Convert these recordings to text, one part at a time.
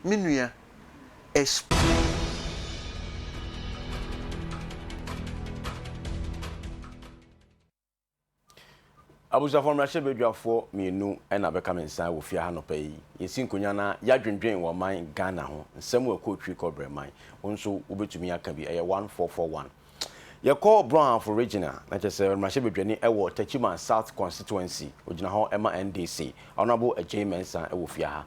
me nua Esp. Abusuafoɔ mmarahyɛbadwafoɔ mmienu na bɛka me nsa wɔ fie ha nɔpa yi. Yɛsi nkonya na yɛadwendwen wɔ man Ghana ho nsɛm a ɛkɔɔ twiri kɔbrɛ man. Wo nso wobɛtumi aka bi, ɛyɛ 1441. Yɛkɔ Brɔnhafo Region a, na kyerɛ sɛ mmarahyɛbadwani wɔ Techiman South Constituency, ɔgyina hɔ ma NDC, Honourable Agyei Mensah wɔ fie ha.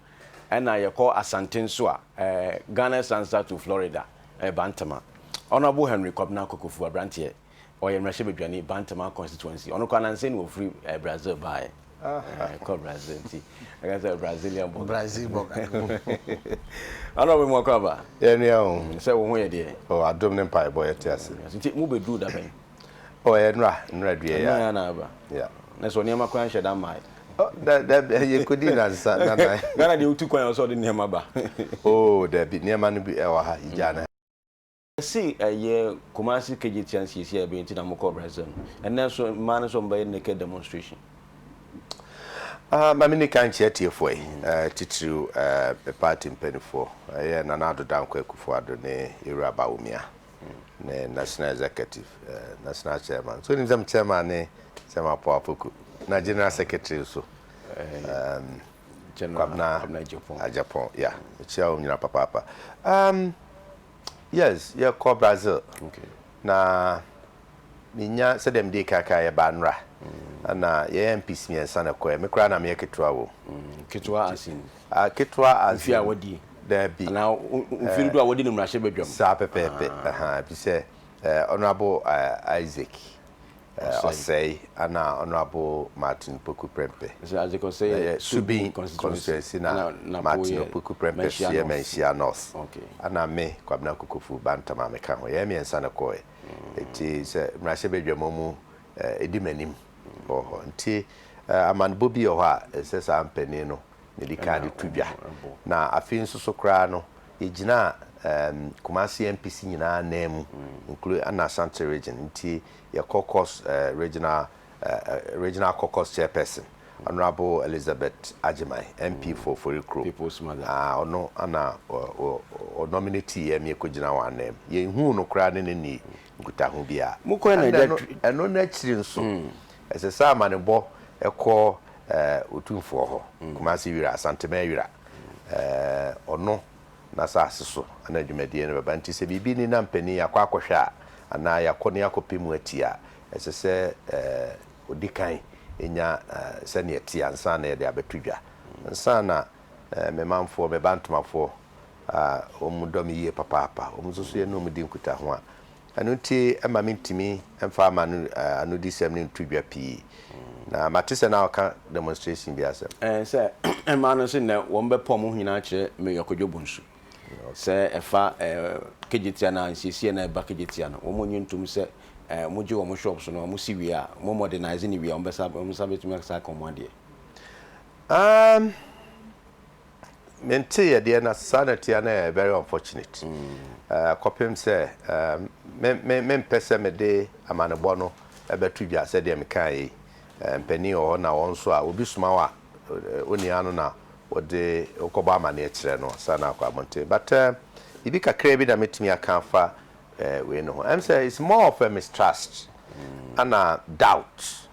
Ɛna yɛkɔ Asante nso a, Ghana Sansa to Florida, ɛyɛ Bantama. Honourable Henry Kobna Kokofu, aberanteɛ, ɔyɛ mmarahyɛbadwani Bantama Constituency. Ɔno koraa nansa yi na ɔfiri Brazil baeɛ. Ɛkɔ Brazil nti ɛka sɛ Brazilian bɔga. Brazil bɔga. Ana ɔbɛ mu akɔ aba. Yɛ nua o. Mm, sɛ wo ho yɛ deɛ. O adom ne mpa ɛbɔ yɛ te ase. Nti mo bɛ duru da bɛn. O yɛ nura nura due ya. Nura ya na aba. Ya. Na sɛ nneɛma kora nhyɛ da mmaa yi. Oh, da da yɛ kodi na nsa na na. Ghana deɛ wotu kwan yɛ ɔsɛ ɔde nneɛma ba. Oh, dabi nneɛma no bi ɛwɔ ha yɛ gya na. Se ɛyɛ Kumasi Kejetia nsiesie a ɛbɛyɛ nti na mo kɔɔ Brazil no, ɛnnɛ nso mmaa no nso wɔn bɛyɛ naked demonstration. Ma me nni kan nkyea atiefoɔ yi, titiriw me party mpaninfoɔ, ɛyɛ Nana Addo Dankwa Akufo Addo ne Yewura Bawumia ne National Executive, National Chairman, so wonim sɛ me Chairman ne Chairman Apaw Apoku, na General Secretary nso, Kwabena Agyapong, yeah, mekyea wɔn nyinaa papaapa. Yes, yɛkɔ Brazil na menya sɛdeɛ mede kan kan yɛbaa nnora na yɛyɛ mpis mmiɛnsa na ɛkɔɛ me koraa na meyɛ ketewa wɔ mu. Ketewa asin. Ketewa asin. Mfie a wadi. Daabi. Anaa mfiri do a wadi no mmarahyɛ badwam. Saa pɛpɛɛpɛ. Ɛfisɛ Honorable Isaac ɔsɛe ana Honourable Martin Opoku Prempeh? Ɛyɛ Subin constituency na Martin Opoku Prempeh so yɛ Manhyia North ana me Kwabena Kokofu Bantam a meka ho. Yɛn mmiɛnsa na ɛkɔɔɛ nti sɛ mmarahyɛbadwam a wɔn ɛdi m'anim wɔ hɔ nti amanebɔ bi wɔ hɔ a ɛsɛ saa mpanin no na ɛdi kan de to dwa na afei nso so koraa no yɛgyinaa Kumasi MPC nyinaa nan mu including ana Ashanti region nti Yɛ caucus regional regional caucus chairperson honourable Elizabeth Agyemang MP for Ofori kurom people's mother ah ɔno ana ɔ nominate yɛ me kɔ gyina wɔn anan mu yɛn huu no koraa ne ne ni nkutaho bi a mo kɔ na ɛno ɛno n'akyiri nso ɛsɛ sɛ amanebɔ ɛkɔ ɛɛ otumfoɔ hɔ Kumasi wira Asantema wira ɛɛ ɔno n'asase so anaa dwumadie no bɛba. Nti sɛ biribi nni na mpanin yɛakɔ akɔhwɛ a, anaa yɛakɔ na yɛakɔpɛ mu atie a, ɛsɛ sɛ ɔdi kan nya sɛdeɛ ɛteɛ ansa na yɛde abɛto dwa. Ansa na me manfoɔ, me Bantomafoɔ a wɔdɔ me yie papaapa, wɔn nso so yɛne wɔn di nkutaho a, Ɛno nti, ɛmma mintumi mfa m'anodisɛm no nto dwa pii. Na mate sɛ na wɔka demonstration bi asɛm. Ɛɛ, sɛ mmaa no se nnɛ wɔbɛpa wɔn ho nyinaa akyerɛ Mayor Kojo Bonsu sɛ ɛfa Kejetia no a, nsiesie a na ɛba Kejetia no, wɔnnye ntom sɛ wɔgye wɔn shops no, wɔsi wie a, wɔn modernise no wie a, wɔbɛsa wɔn nsa betumi asa aka wɔn adeɛ. Um. Me ntee ɛdeɛ na saa na tia na ɛyɛ very unfortunate kɔpem sɛ me me mpɛ sɛ me de amanebɔ no ɛbɛto dwa sɛ deɛ me kaa yɛ yi mpanin wɔ hɔ na wɔn nso a obi soma wa onia no na wɔde wokɔbɔ amaneɛ kyerɛ no saa na akɔ abɔnten but biribi kakraa bi na mɛtumi aka afa wei no ho ɛm sɛ it's more of a mistrust ana doubt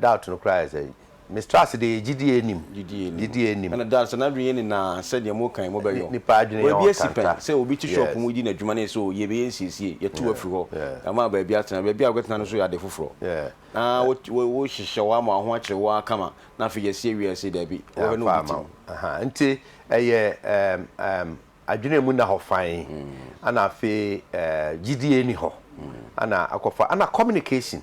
doubt no koraa yɛ sɛ Mistrust deɛ yɛ gyidie anim. Gyidie anim. Ɛna Dar sɛ n'adwene yɛ ne naa sɛ deɛ mo kan mo bɛ yɔ. Nipa adwene yɛ ɔkanta. Obi asi pɛn sɛ obi te shop mu di n'adwuma na yɛ sɛ oh yɛ bɛ yɛ nsiesie yɛ tew afiri hɔ yɛ ama baabi atena baabi a wobɛtena no nso yɛ ade foforɔ na wo hyehyɛ hɔ ama ho akyere wo ara kama na afei yɛ si awie a yɛ se dabi wɔ hɛ na obi te mu. Nti ɛyɛ adwene a emu nna hɔ fann, ɛna afei gyidie nni hɔ, ɛna akɔfa ɛna communication,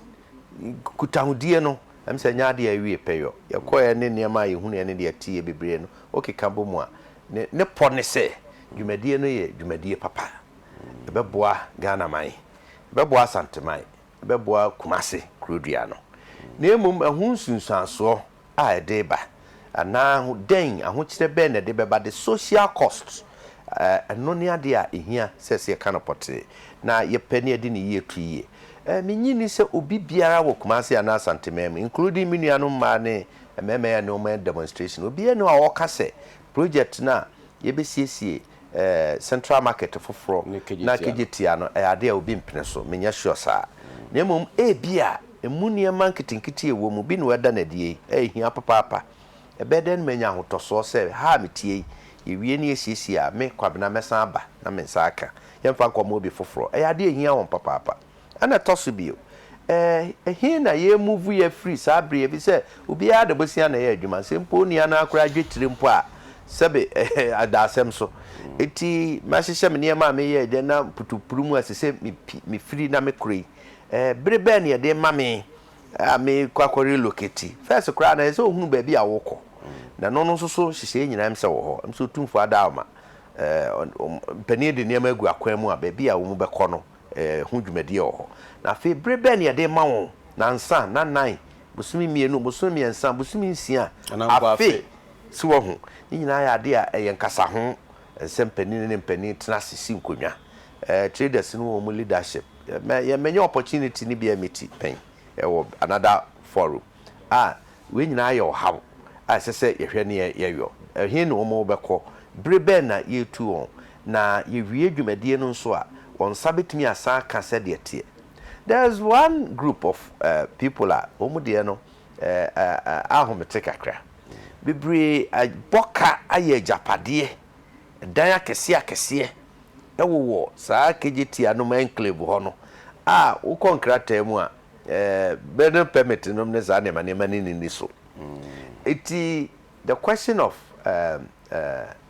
nkutahodie no, ɛm sɛ ɛnyɛ adeɛ a ɛwie pɛ yɔ. Yɛkɔeɛ ne nneɛma a yɛhunuiɛ ne deɛ yɛteeɛ bebree no, wokeka bɔ mu a, ne ne pɔ ne sɛ dwumadie no yɛ dwumadie papa. Ɛbɛboa Ghanaman, ɛbɛboa Asanteman, ɛbɛboa Kumase kurodua no. Na mmom ɛho nsunsuansoɔ. a ɛde reba anaa dɛn, ahokyerɛ bɛn na ɛde bɛba, the social cost, ɛno ne adeɛ a ɛhia sɛ sɛ yɛka no pɔtee na yɛpɛ na yɛde ne yie to yie. Mennye nni sɛ obi biara wɔ Kumasi anaa Asante man mu, including me nuanom mmaa ne mmarima a yɛne wɔn ayɛ demonstration, obiara nni hɔ a ɔka sɛ project no a yɛbɛsiesie Central Market foforɔ na kegye tia no yɛ adeɛ a obi mpene so, mennyɛ sure saa. Na mmom ebia ɛmu nneɛma nketenkete a ɛwɔ mu bi na wɔada no adie yi, a ɛhia papaapa. Ɛbɛyɛ dɛn na manya ahotɔsoɔ sɛ ha a meteɛ yi, yɛwie na yɛsiesie a, me, Kwabena, mɛsan aba na me nsa aka? Yɛmfa nkɔma obi foforɔ. Ɛyɛ adeɛ a ɛhia wɔn papaapa. Ɛna ɛtɔ so bio, ɛɛ, he na yɛremuvu yɛ afiri saa bere yi, efisɛ obiara de bosea na ɛyɛ adwuma, sɛ mpo onua no ara koraa gye tire mpo a, sɛbe, ɛhɛ, ɛda asɛm so. Enti mahyehyɛ me nneɛma a mereyɛ adwuma na mputuwpuru mu a ɛsɛ sɛ mipi, mifiri na mekɔ yi, ɛɛ, bere bɛn na yɛde rema me a merekɔ akɔ-relocate? First koraa no, ɛsɛ sɛ ohunu baabi a worekɔ, na ɛno no nso so nhyehyɛe nyinaa ɛm sɛ wɔ hɔ, ɛm sɛ Otumfoɔ ada wo ma, ɛɛ, ɔn, ɔn, mpanin de nneɛma agu akwan mu a baabi a wɔbɛkɔ no, eh, ho dwumadie wɔ hɔ. Na afei bere bɛn na yɛde rema wɔn? Nansa, nanan, bosome mmienu, bosome mmiɛnsa, bosome nsia, afe. So wahu? Ne nyinaa yɛ adeɛ a ɛyɛ nkasa ho nsɛm panin ne mpanin tena ase si nkonnwa. Eh, traders no wɔ wɔn leadership. Yɛ, mɛ, yɛ, mɛnya opportunity no bi a meti pɛn wɔ another forum a. Wei nyinaa yɛ ɔhaw a ɛsɛ sɛ yɛhwɛ ne yɛyɔ. Ɛhe na wɔn bɛkɔ? Bere bɛn na yɛretu wɔn? Na yɛwie dwumadie no nso a, wɔn nsa bɛtumi asan aka sɛdeɛ ɛteɛ? There is one group of people a wɔn deɛ no ahomete kakra. Bebree abɔ ka ayɛ agyapadeɛ, dan akɛseɛ akɛseɛ wowɔ saa Kejetia nom enclave hɔ no a wokɔ nkrataa mu a, Bere no permit nom ne saa nneɛma nneɛma no nni so. Enti the question of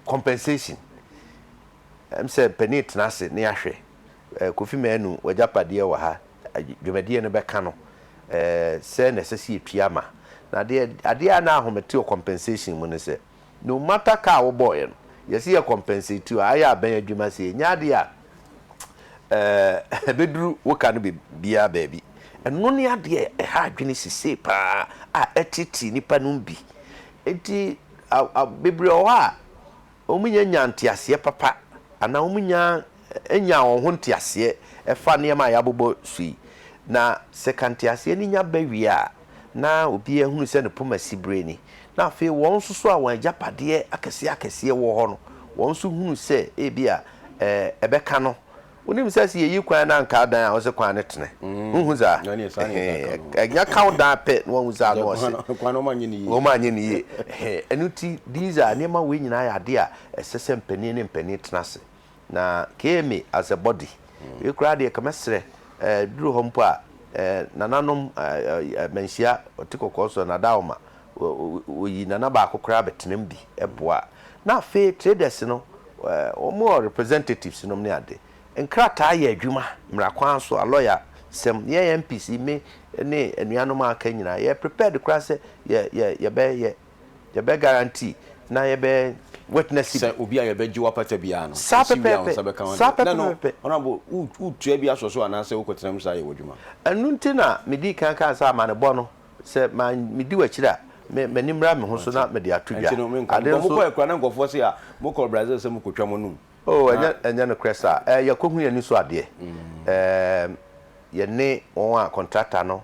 compensation, ɛm sɛ panin tena ase na yɛahwɛ. Kofi Manu w'agyapadeɛ wɔ ha, dwumadie no bɛka no sɛ na ɛsɛ sɛ yɛtua ma. Na adeɛ a na ahome te wɔ compensation mu ne sɛ, No matter ka a wobɔɔeɛ no, yɛse yɛ compensate you a, ayɛ a bɛn adwuma sei, ɛnyɛ adeɛ a eh, ɛbɛduru wo ka no biaa baabi. Ɛno ne adeɛ a ɛha adwene sisei paa a ɛteetee nnipa nom bi. Nti a, a, bebree wɔ hɔ a, wɔn nyɛ nyaa nteaseɛ papa, anaa wɔn nyaa ɛnyaa wɔn ho nteaseɛ ɛfa nneɛma a yɛabobɔ so yi. Na sɛ ka nteaseɛ no nya bɛ wie a, na obiara hunu sɛ ne poma siberee ni, na afei wɔn nso so a wɔn agyapadeɛ akɛseɛ akɛseɛ wɔ hɔ no, wɔn nso hunu sɛ ebia ɛɛ ɛbɛka no. Wonim sɛ sɛ yɛyi kwan na anka adan a, ɔse kwan no tene. Wohu saa? Mm, na neɛ saa neɛ ɛka no. Ɛhɛn, ɛnya ka wo dan pɛ na wahu saa na ɔse. Kwan no, kwan no wɔanyɛ no yie. Wɔanyɛ no yie. Ɛhɛn, ɛno nti these are, nneɛma wei nyinaa yɛ adeɛ a ɛsɛ sɛ mpanin ne mpanin tena ase Na kee me as a body. Wei koraa deɛ ka mɛsrɛ eh, duru hɔ mpo a eh, nananom eh, eh, manhyia ɔte kɔkɔɔ so anadaoma wɔyi nana baako koraa bɛtenam bi boa na afei traders no eh, wɔn wɔ representatives nom ne ade nkrataa yɛ adwuma mmara kwan so a lawyer sɛm yɛn MPs me ne anuanom a aka nyinaa yɛ prepared koraa sɛ yɛ yɛ yɛbɛyɛ Yɛbɛ guarantee na yɛbɛ witness bi. Sɛ obi a yɛbɛ gye wapata biara no, Saa yɛsi wie a wo pɛpɛɛpɛ, nsa bɛka ho saa adeɛ. Lɛ no, pɛpɛɛpɛ. Honourable, wo wo tua bi asɔ so anaasɛ wo kɔ tena mu saa yɛ w'adwuma? Ɛno nti na me dii kan kaa sɛ amanebɔ no, sɛ ma me di w'akyiri a, me m'ani mmra me ho so na mede ato dwa. Ɛnti no menka ho. Ade Bɔ mo nso. kɔɛ koraa na nkorɔfoɔ se a, mo kɔ Brazil sɛ mo kɔ twa mo anum. Oh, Na. ɛnyɛ ɛnyɛ nokorɛ saa. Ɛɛ yɛkɔ hu yɛn ani so adeɛ. Ɛɛm, yɛne wɔn a contractor no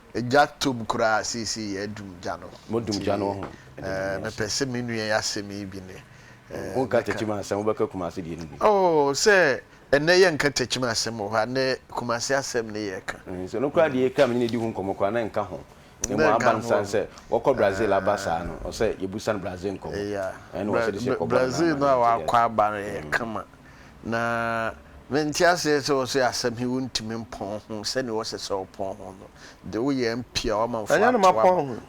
Gya tom koraa seesei yɛadum gya no. Modum gya no wɔ ho? Ɛdeɛ na meyɛ aso. Mepɛ sɛ me nua yi asɛm yi bi ne. Wonka takyima asɛm, wobɛka Kumase deɛ no bi. Oh, sɛ ɛnnɛ yɛnka takyima asɛm wɔ hɔ a, ɛnnɛ Kumase asɛm ne yɛreka. Nso no koraa deɛ yɛkaa me ne no adi ho nkɔmmɔ koraa na ɛnka ho. Na mmom aban sane sɛ wɔkɔ Brazil aba saa no, ɔsɛ yɛbu sane Brazil nkɔmmɔ. Ɛyɛ a, Brazil no a wakɔ aba no yɛ kama. Na mente aseɛ sɛ ɔse asɛm he wontumi mpɔn ho sɛdeɛ wɔsɛ sɛ wɔpɔn ho no, de wo yɛ MP a w'amanfoɔ ato wo aba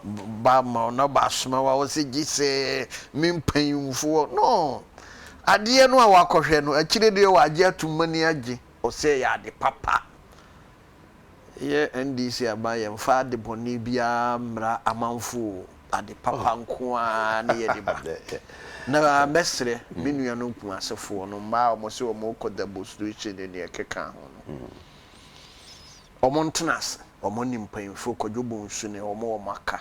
ba ama wo na ɔba asoma wo a wɔsɛ gye sɛ me mpanyimfoɔ no adeɛ no a wɔakɔhwɛ no akyire deɛ wɔagye atom m'ani agye. Ɔsɛ ɛyɛ ade papa. Yɛn NDC aban yɛmfa ade bɔne biara mmra amanfo o, ade papa nko ara ne yɛde ba. Na mɛsrɛ me nuanom Kumasefoɔ no, mmaa a wɔse wɔrekɔ demonstration ne deɛ ɛkeka ho no, wɔntena ase, wɔne mpanyimfoɔ, Kwadwo Bonsu ne wɔn a wɔaka,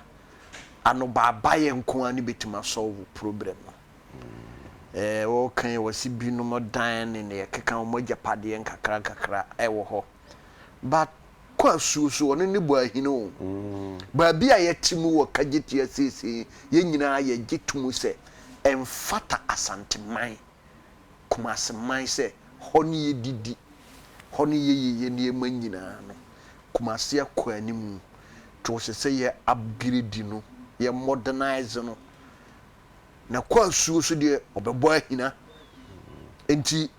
anobaabaeɛ nko ara ne bɛtumi a solve problem no. Wɔreka yi wɔse binom dan ne deɛ ɛkeka ho, wɔn agyapadeɛ nkakrankakra wɔ hɔ. But kɔ asuo so ɔno ne bɔ ahini o. Baabi a yɛte mu wɔ Kagyetua seesei yɛn nyinaa yɛgye to mu sɛ ɛmfata Asanteman, Kumaseman sɛ hɔ ne yɛdidi, hɔ ne yɛyɛ yɛn nneɛma nyinaa no. Kumase akɔ anim. Nti ɔsɛ sɛ yɛ upgrade no, yɛ modernise no. Na kɔ asuo so deɛ ɔbɛbɔ ahina. Nti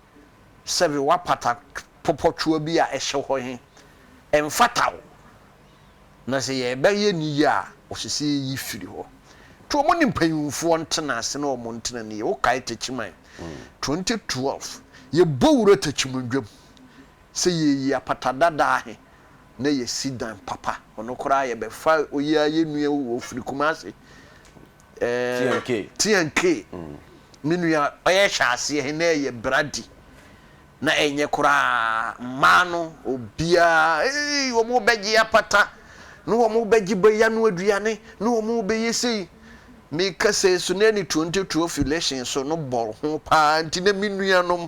sɛbe w'apata pɔpɔtwoa bi a ɛhyɛ hɔ he, ɛmfata wo, na sɛ yɛɛbɛyɛ no yie a, ɔsɛ sɛ yɛyi firi hɔ. Nti wɔn ne mpanyimfoɔ ntena ase na wɔn ntena no yie. Wokae Takyiman twenty twelve, yɛbɔ wura Takyimundwam sɛ yɛɛyi apata dadaa he na yɛasi dan papa. Ɔno koraa yɛbɛfa oyi a yɛnnua o, ɔfiri Kumase. Tiankee. Tiankee. Me nua ɔyɛ hyɛ aseɛ he na ɛyɛ bradi. Na ɛnyɛ koraa. Mmaa no obiaa eii wɔn bɛgye apata ne wɔn bɛgye bɛya no aduane ne wɔn bɛyɛ sei. Meka sei so na ɛne 2012 elections no bɔ ho paa nti na me nuanom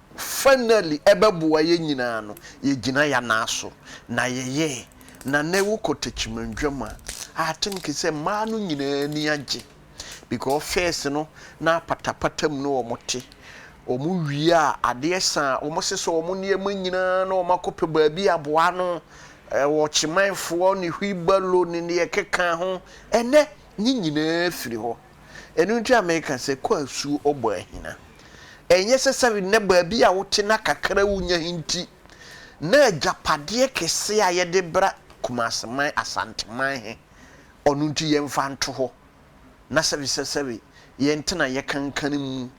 Finally ɛbɛboa yɛn nyinaa no yɛgyina yɛn nan so na yɛyɛ na nnɛ wokɔ Techimanjam a I think sɛ mmaa no nyinaa ani agye because first no na apatapata mu na wɔn te wɔn wie a adeɛ sa a wɔn sesa wɔn nneɛma nyinaa na wɔn akɔpɛ baabi aboa ano wɔ Chimanfoɔ ne Wheelbarrow ne deɛ ɛkeka ho ɛnnɛ ne nyinaa firi hɔ. Ɛno nti a meka sɛ, Kɔ asuo ɔbɔ ahina. Ɛnyɛ sɛ sɛre na baabi a wote na kakra a wonya he nti na agyapadeɛ kɛseɛ a yɛde bra Kumase man, Asanteman he, ɔno nti yɛmfa nto hɔ na sɛre sɛ sɛre yɛntena yɛkankan mu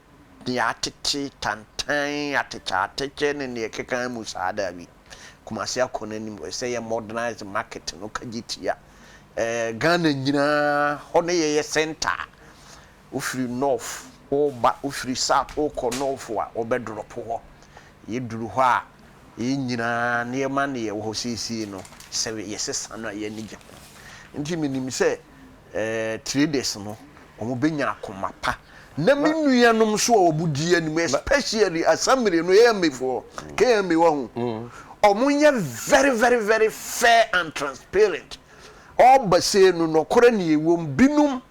deɛ atete, tantan, atɛkyɛatɛkyɛ ne deɛ ɛkeka mu saa. Daabi. Kumasi akɔ n'anim wɔ sɛ yɛ modernize market no kagye tia ɛɛ Ghana nyinaa hɔ no yɛ yɛ centre a wofiri north woba wofiri south wokɔ north a wɔbɛ drop hɔ yɛ duru hɔ a yɛ nyinaa nneɛma na yɛ wɔ hɔ seesei no sɛ yɛ sesa no a yɛ ani gye ho nti menim sɛ traders no wɔn bɛnya akoma pa na me nua nom nso a wɔn di anim especially asamire no AMA foɔ KMA wɔ ho mm. wɔn yɛ very very very fair and transparent ɔba se no nɔkorɛ ne ɛwɔ mu binom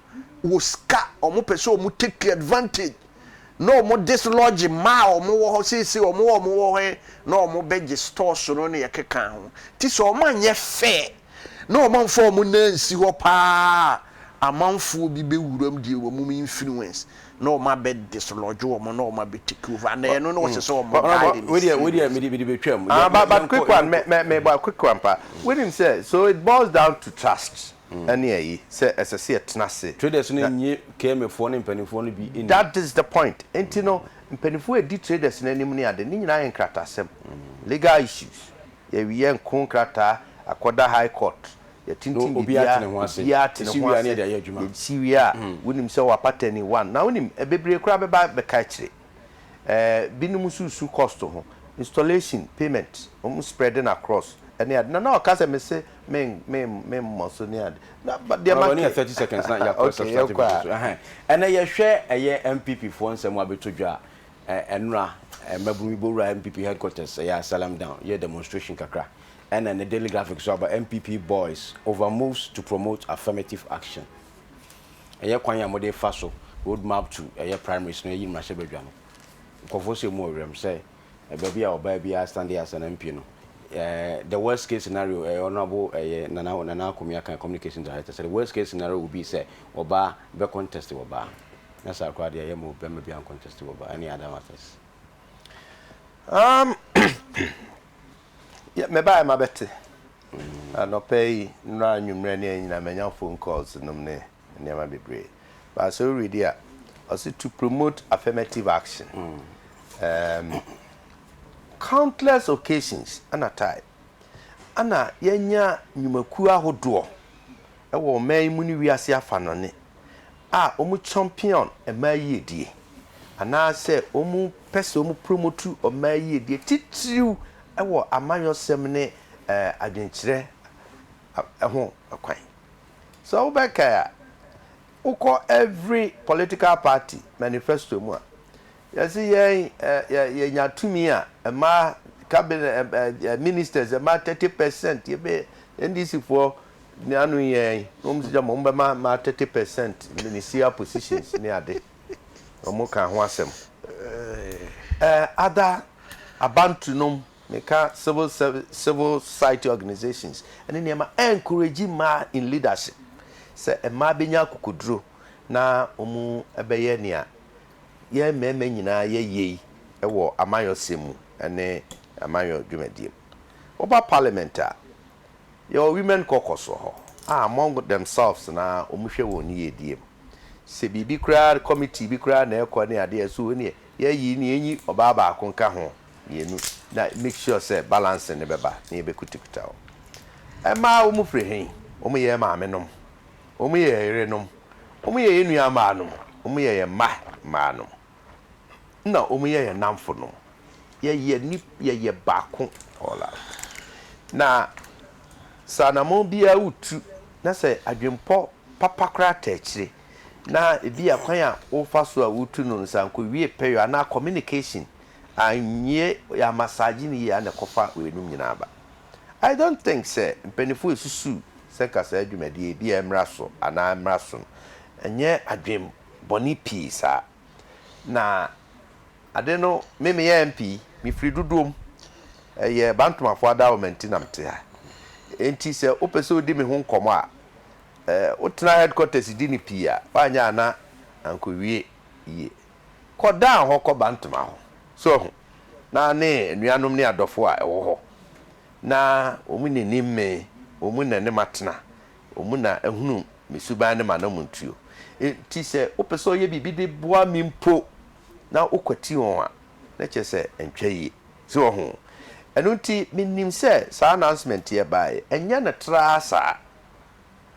wɔ sika wɔn pɛ sɛ wɔn take advantage na wɔn dislodge mmaa a wɔn wɔ hɔ seesei wɔn wɔ wɔn wɔ hɔ na wɔn bɛgye stores no na yɛkeka ho ti sɛ wɔn anyɛ fair na wɔamfa wɔn nan ansi hɔ paa a, amanfoɔ bi bɛwuram deɛ wɔn influence na wɔn abɛ dislodge wɔn na wɔn abɛ take over and ɛno na ɔsɛ sɛ wɔn guide and steer those people. Ah, but, but quick one, me, me, me, but quick one pa. Wonim sɛ, so it boils down to trust ɛne ayi, sɛ ɛsɛ sɛ yɛtena ase. Traders no nnye KMfoɔ ne mpaninfoɔ no bi nni. That is the point. Nti no, mpaninfoɔ a ɛdi traders no anim ne ade, ne nyinaa yɛ nkratasɛm, legal issues. Yɛyɛ nko nkrataa akɔda high court, yɛtintim biribiara, obiara ate ne ho ase, yɛsi wie a wonim sɛ wɔapa tɛni one. Na wonim, bebree koraa bɛba abɛka akyire. Binom nso resu cost ho, installation, payment, wɔn spread no across ne ade. Na na ɔka sɛ mese memmɔ so ne ade. Na deɛ ma ke. Okay, yɛnkɔ a. Ɛnɛ yɛhwɛ ɛyɛ NPP foɔ nsɛm abɛtɔ dwa a, Ɛnora mmabunu bi bɛwuraa NPP headquarters, ɛyɛ a Salem Down, yɛɛ demonstration kakra. Ɛna ɛnnɛ Daily Graphic nso aba, NPP boys over moves to promote affirmative action. Ɛyɛ kwan a wɔde refa so, road map to ɛyɛ primaries no, ayi mmarahyɛbadwa no. Nkurɔfoɔ nso ɛmu wɔ werɛm sɛ baabi a ɔbaa biara stande as an MP no, the worst case scenario, ɛyɛ Honourable ɛyɛ Nana Nana Akomi Akan, Communications Director, sɛ the worst case scenario will be sɛ ɔbaa bɛcontest wɔ baa. na saa koraa deɛ ɛyɛ mo bɛma bi anconteste wɔ ba ɛne other matters um, mebaɛ ma bɛte anɔpɛ yi nnora anwummerɛ ne anyina manya phone calls nom ne nneɛma bebree baasɛ woredi a ɔse to promote affirmative action mm. um, countless occasions ana time ana yɛanya nnwumakuo ahodoɔ ɛwɔ ɔman yi mu ne wiase afa no ne a wɔn champion mmaa yiedie anaasɛ wɔn pɛ sɛ wɔn promote mmaa yiedie titiriw wɔ amanyɔsɛm ne adwenkyerɛ ho kwan. Sɛ wo bɛ kae a wo kɔ every political party manifesto mu a yɛse yɛn yɛ nya tumi a mmaa cabinet ministers mmaa thirty percent yɛbɛ NDC foɔ Ne ano yɛn na wɔn sɛ gyama wɔn bɛma ma thirty percent ministerial positions ne ade na wɔn kaa ho asɛm ɛɛ other Abantu nom meka civil service civil society organisations ɛne nneɛma encourage mmaa in leadership sɛ mmaa bɛnya akokoduro na wɔn bɛyɛ nea yɛn mmarima nyinaa yɛ yei wɔ amanyɔsɛm mu ɛne amanyɔ dwumadie mu wɔba parliament a Yɛwɔ Women Caucus wɔ hɔ a among themselves no ara wɔhwɛ wɔn yiyedie mu. Sɛ biribi koraa, committee bi koraa na ɛrekɔ ne adeɛ a, so wei neɛ yɛyi na yɛnyi ɔbaa baako nka ho, mmienu, na make sure sɛ balancing no bɛba na yɛbɛkutakuta wɔn. Mmaa wɔn firi he? Wɔyɛ yɛn maamenom, wɔyɛ yɛn yerenom, wɔyɛ yɛn nuammaanom, wɔyɛ yɛn mma mmaanom. na wɔn yɛ yɛn nnamfo no, yɛyɛ nip, yɛyɛ baako, all out. Na sɛ anammɔn biara wotu na sɛ adwenpɔ papa koraa taa akyire, na ebi a kwan a wofa so a wotu no no sɛ ankowie pɛyɔ anaa communication anwie, yɛamassage no yie a na ɛkɔfa weinom nyinaa ba. I don't think sɛ mpaninfoɔ resusu sɛ nka saa dwumadie yi ebi a ɛmmra so anaa ɛmmra so no, ɛnyɛ adwen bɔne pii saa. Na ade no me me yɛ MP, me firi Dodoom, ɛyɛ Bantomafoɔ Adawoma nti na mete ha. Enti sɛ wo pɛ sɛ wo di me ho nkɔmɔ a, wo tena headquarters di no pii a, woanyɛ a na anko wie yie. Kɔ Dan hɔ kɔ Bantoma hɔ, so wahu, na ne anuanom ne adɔfoɔ a ɛwɔ hɔ, na wɔn na ɛnim me, wɔn mu na ɛne matena, Wɔn na ahunu me suban ne m'anammɔntuo. Enti sɛ wopɛ sɛ ɔyɛ biribi de boa me mpo na wokwati wɔn a, na kyerɛ sɛ ɛntwa yie. So wɔ ho? Ɛno nti menim sɛ saa announcement yi ɛbaeɛ, ɛnyɛ no traa saa.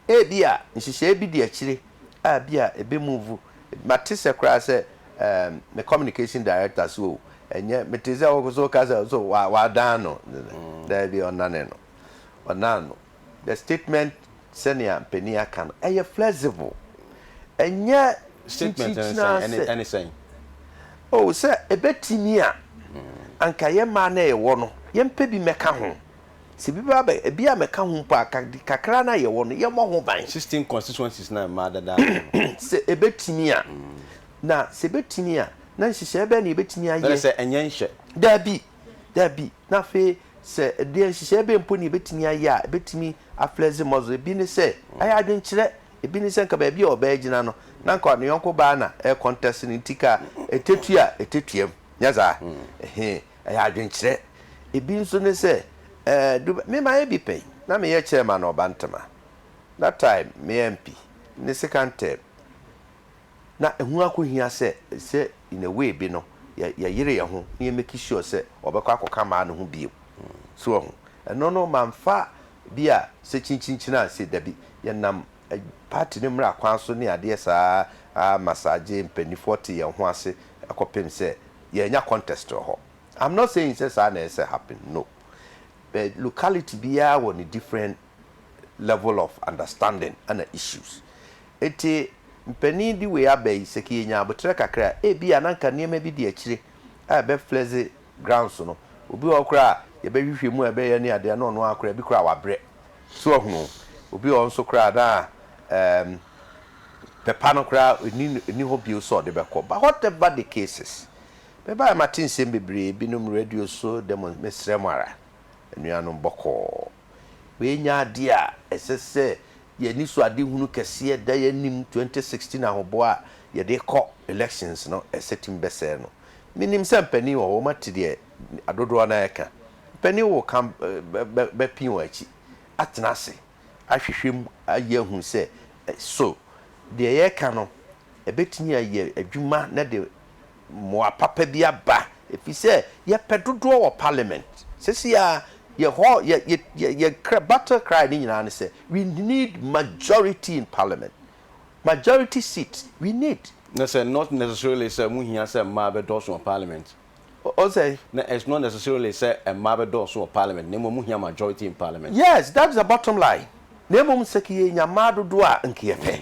Ebia nhyehyɛeɛ bi di akyire a ebia ɛbɛ move. Mate sɛ koraa sɛ ɛɛm me communication director so o, ɛnyɛ, metee sɛ wo nso woka sɛ nso wa, wadan no. Daabi, ɔnane no. Ɔnan no. The statement sɛnea mpanin aka no ɛyɛ flexible ɛnyɛ nkyikyina sɛ oh sɛ ɛbɛtumi a anka yɛ mmaa na yɛwɔ no yɛmpɛ bi mɛka ho sɛ bi ba bɛ bi a mɛka ho mpo a kakra na yɛwɔ no yɛmmɔ ho ban. Sixteen constituencies na mmaa dada no. Sɛ ɛbɛtumi a na sɛ ɛbɛtumi a na nhyehyɛɛ bɛn na yɛbɛtumi ayɛ. Sɛ ɛnyɛ nhyɛ. Daabi. Dabi. Na afei, sɛ ɛdeɛn nhyehyɛeɛ bɛn mpo na yɛbɛtumi ayɛ a ɛbɛtumi aflɛɛse muscle? Ebi ne sɛ, ayɛ adwenkyerɛ. Ebi ne sɛ, anka baabi a ɔbɛɛgyina no, na anka ne yɔnko baa na ɛɛkɔntɛse no nti, ka ɛtɛtua a, ɛtɛtuam. Nyɛ saa? Ɛhe, ɛyɛ adwenkyerɛ. Ebi nso ne sɛ, ɛɛ, du bɛ, me mayɛ bi pɛn. Na meyɛ chairman Ɔba Ntema. That time, meyɛ MP. Ne second term. na ɛho akohia sɛ sɛ in a way bi no yɛ yɛyere yɛn ho na yɛ make sure sɛ ɔbɛkɔ akɔka maa no ho bio so wɔ ho ɛno no manfa bi a sɛ kyinkyinkyin anse dabi yɛnam party no mmra kwan so ne adeɛ saa a massage mpaninfoɔ te yɛn ho ase kɔpem sɛ yɛanya contest wɔ hɔ I'm not saying sɛ saa na ɛsɛ happen no but locality biara wɔ ne different level of understanding na issues. Nti mpanin de wei aba yi sɛ ke yɛnya aboterɛ kakra a ebi a na nka nneɛma bi di akyire a ɛbɛ flexi grounds no. Obi wɔ hɔ koraa a yɛbɛ hwehwɛ mu a ɛbɛ yɛ ne adeɛ a na ɔno ara koraa ebi koraa wabrɛ. So wahunu? Obi wɔ hɔ nso koraa a na ɛɛm pɛ pa no koraa ɛni ɛni hɔ bio sɛ ɔde bɛkɔ. But whatever the cases, me baeɛ mate nsɛm bebree binom radio so, demo, mesrɛ mo ara anuanom bɔkɔɔ. Wei nyɛ adeɛ a ɛsɛ sɛ yɛn anisoadehunu kɛseɛ da yɛn anim 2016 ahoboa a yɛde rekɔ elections no ɛsɛ tumi bɛsɛe no. Menim sɛ mpanin wɔ hɔ wɔate deɛ adodoɔ no ara reka. Mpanin wɔ ka bɛpee wɔn akyi atena ase ahwehwɛ mu ayɛ ahunu sɛ so deɛ yɛreka no ɛbɛtumi ayɛ adwuma na de mmoa papa bi aba efisɛ yɛpɛ dodoɔ wɔ parliament sesei a yɛ hɔ yɛ yɛ yɛn kra battle cry ne nyinaa ne sɛ we need majority in parliament majority seat we need. Ne sɛ not necessarily sɛ ɛmu hia sɛ mmaa bɛdɔɔso wɔ parliament Ɔn sɛ. na it's not necessarily sɛ mmaa bɛdɔɔso wɔ parliament na mmom ɛmu hia majority in parliament. Yes that is the bottom line na mmom sɛke yɛnya mmaa dodoɔ a nka yɛpɛ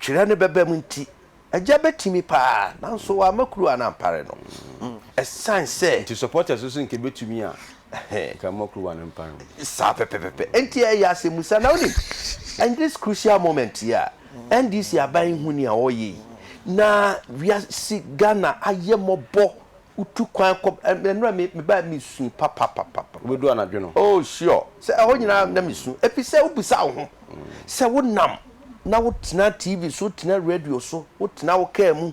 Twerɛ no bɛba mu nti, Agya bɛtumi paa nanso wamma kuruwa no ampare no ɛsiane sɛ. Nti supporters nso nka ɛbɛtumi a nka mma kuruwa no mpare wɔn. Saa pɛpɛpɛpɛ. Nti ɛyɛ asɛmmusa. Na wonim, in this crucial moment yi a NDC aban yi hu nea wɔreyɛ yi na wiase Ghana ayɛ mmɔbɔ Wotu kwan kɔ ba, na nnora me, mebae a mesu papapapapa. Wobedu anadwo no? Oh, sure. Sɛ ɛhɔ nyinaa na mesu, efisɛ wobisa wo ho sɛ wonam na wotena TV so, wotena radio so, wotena wo kaa mu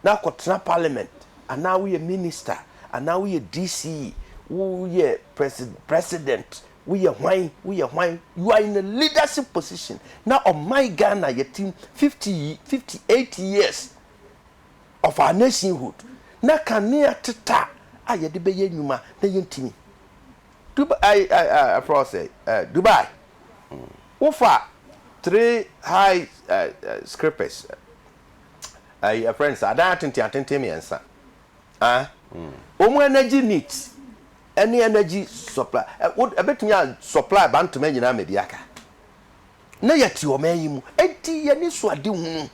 na akɔtena Parliament, anaa woyɛ Minister, anaa woyɛ DC, woyɛ Presi, President, woyɛ hwan, woyɛ hwan, you are in a leadership position, na ɔman Ghana yɛte mu fifty, fifty eight years. of our nationhood na kanea teta a yɛde bɛyɛ nnwuma na yɛntumi Dubai I I I frɛ sɛ eh Dubai wofa three high eh eh scripers eh eh friends adan atenten atenten mmiɛnsa ah wɔn energy neat ɛne energy supply eh wo ɛbɛtumi a supply ba ntoma nyinaa mɛdi aka. na yɛte ɔman yi mu, enti yɛn ani so ade hunu,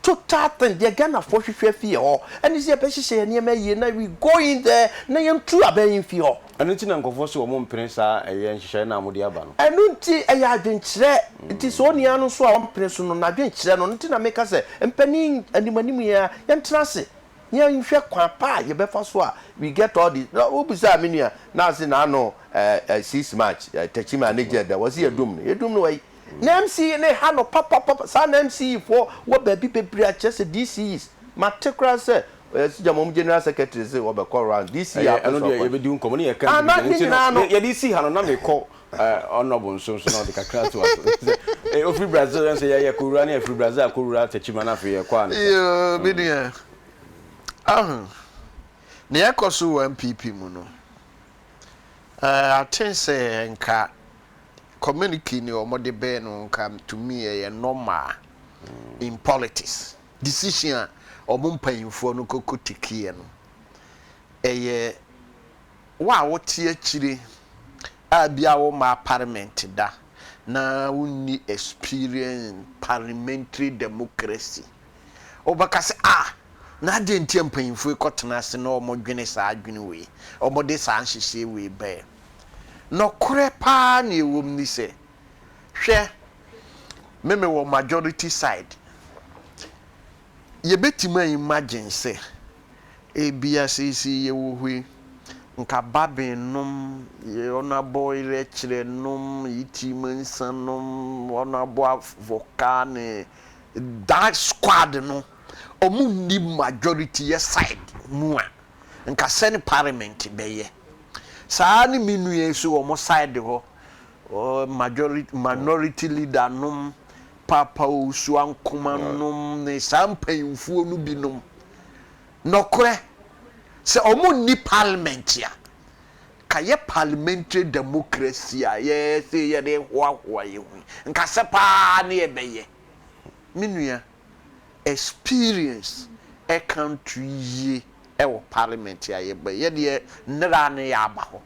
total thing, deɛ Ghanafoɔ hwehwɛ afi yɛn hɔ ɛne sɛ yɛbɛhyehyɛ yɛn nneɛma yie na we go in there na yɛntu abɛn yi mfi hɔ. Ɛno nti na nkurɔfoɔ se wɔn mpene saa ɛyɛ nhyehyɛeɛ no a mode aba no. Ɛno nti ɛyɛ adwenkyerɛ, nti sɛ onua no nso a ɔmpene so no, n'adwenkyerɛ no, ɛno nti na meka sɛ mpanin anim anim yi ara yɛntena ase yɛnhwɛ kwan pa a yɛbɛfa so a we get all this na wobisaa me nua na ɔse n'ano ɛɛ six march ɛɛ tɛkyima a ne gye ɛdɛ wɔse yɛdum no yɛdum no wai na mce ne ha no papapapa saa na mce foɔ wɔ baabi bebree a kyerɛ sɛ dce's mate koraa sɛ ɛɛ sigya mo general secretary se wɔbɛkɔ round dce apɛ sɛ ɔkɔ ɛɛ na ne nyinaa no. Ɔnnɔ bonsonn so na ɔde kakra to aso. Sɛ ɔfiri Brazil ɛnsɛ yɛ yɛ kɔwura ne ɛfiri Brazil akɔwura Techiman na afei yɛkɔ ansa. Yoo me nua. Ahu nea ɛkɔ so wɔ NPP mu no. Eh, I think sɛ nka communique ne wɔn de bɛɛ no nka to me ɛyɛ normal in politics. Decision a wɔn mpanyinfoɔ no kɔkɔ tekiiɛ no ɛyɛ. Wo a wote akyire a bia wo mmaa parliament da na wo nni experience in parliamentary democracy wobɛka sɛ ah na adɛn nti a mpanyinfoɔ yi kɔtena ase na wɔn dwene saa adwene wei wɔn de saa nhyehyɛɛ wei baɛ nɔkorɛ paa nea ɛwɔ mu ni sɛ hwɛ me me wɔ majority side Yebetumi a imagine sɛ ebia seesei yɛwɔ hɔ yi, nka Babin nom, wɔabɔ Erɛkyerɛ nom, Yitim nsa nom, wɔabɔ Avoka ne that squad no, wɔn nni majority yɛ side mu a, nka sɛn parliament bɛyɛ. Saa ara ne me nua yi nso wɔn side hɔ, ɔyɛ majority, minority leader nom, Paapa Ursua Nkoman nom ne saa mpanyimfoɔ no bi nom nɔkorɛ sɛ wɔn nni parliament a nka yɛ parliamentary democracy a yɛ se yɛ de hoahoa yɛ ho yi nka sɛ paa ne yɛ bɛ yɛ me nua experience ɛka nto yie ɛwɔ parliament a yɛ bɛ yɛ deɛ nneraa ne yɛ aba hɔ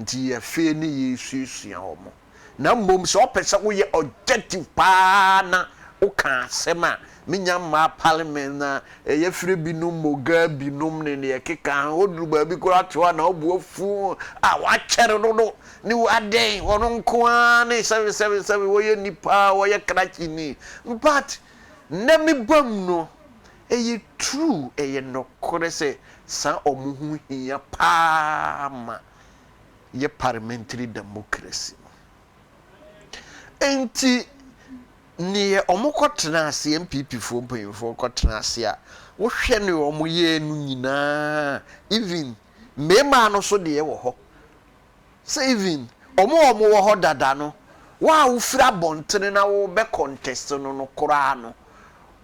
nti yɛ fee ne yɛ suasua wɔn. na mmom sɛ ɔpɛ sɛ woyɛ objective paa na woka asɛm a menya mmaa parliament na yɛfrɛ binom mogaa binom ne deɛ ɛkeka ho woduru baabi koraa te hɔ a na wobu afu a woakyɛre dodo ne wo adɛn wɔn nko ara ne sɛbe sɛbe sɛbe wɔyɛ nnipa a wɔyɛ krakye ni but nnɛ me bam no ɛyɛ true ɛyɛ nɔkorɛ sɛ saa wɔn ho hia paa ma yɛ parliamentary democracy no. Nti neɛ ɔmo kɔ tena ase NPP foɔ mpanyinfoɔ kɔ tena ase a wohwɛ neɛ ɔmo yɛɛ no nyinaa even mmɛɛmaa no so deɛ wɔ hɔ sɛ even ɔmo ɔmo wɔ hɔ dada no wo a wofiri abɔntene na wo bɛ contest no no koraa no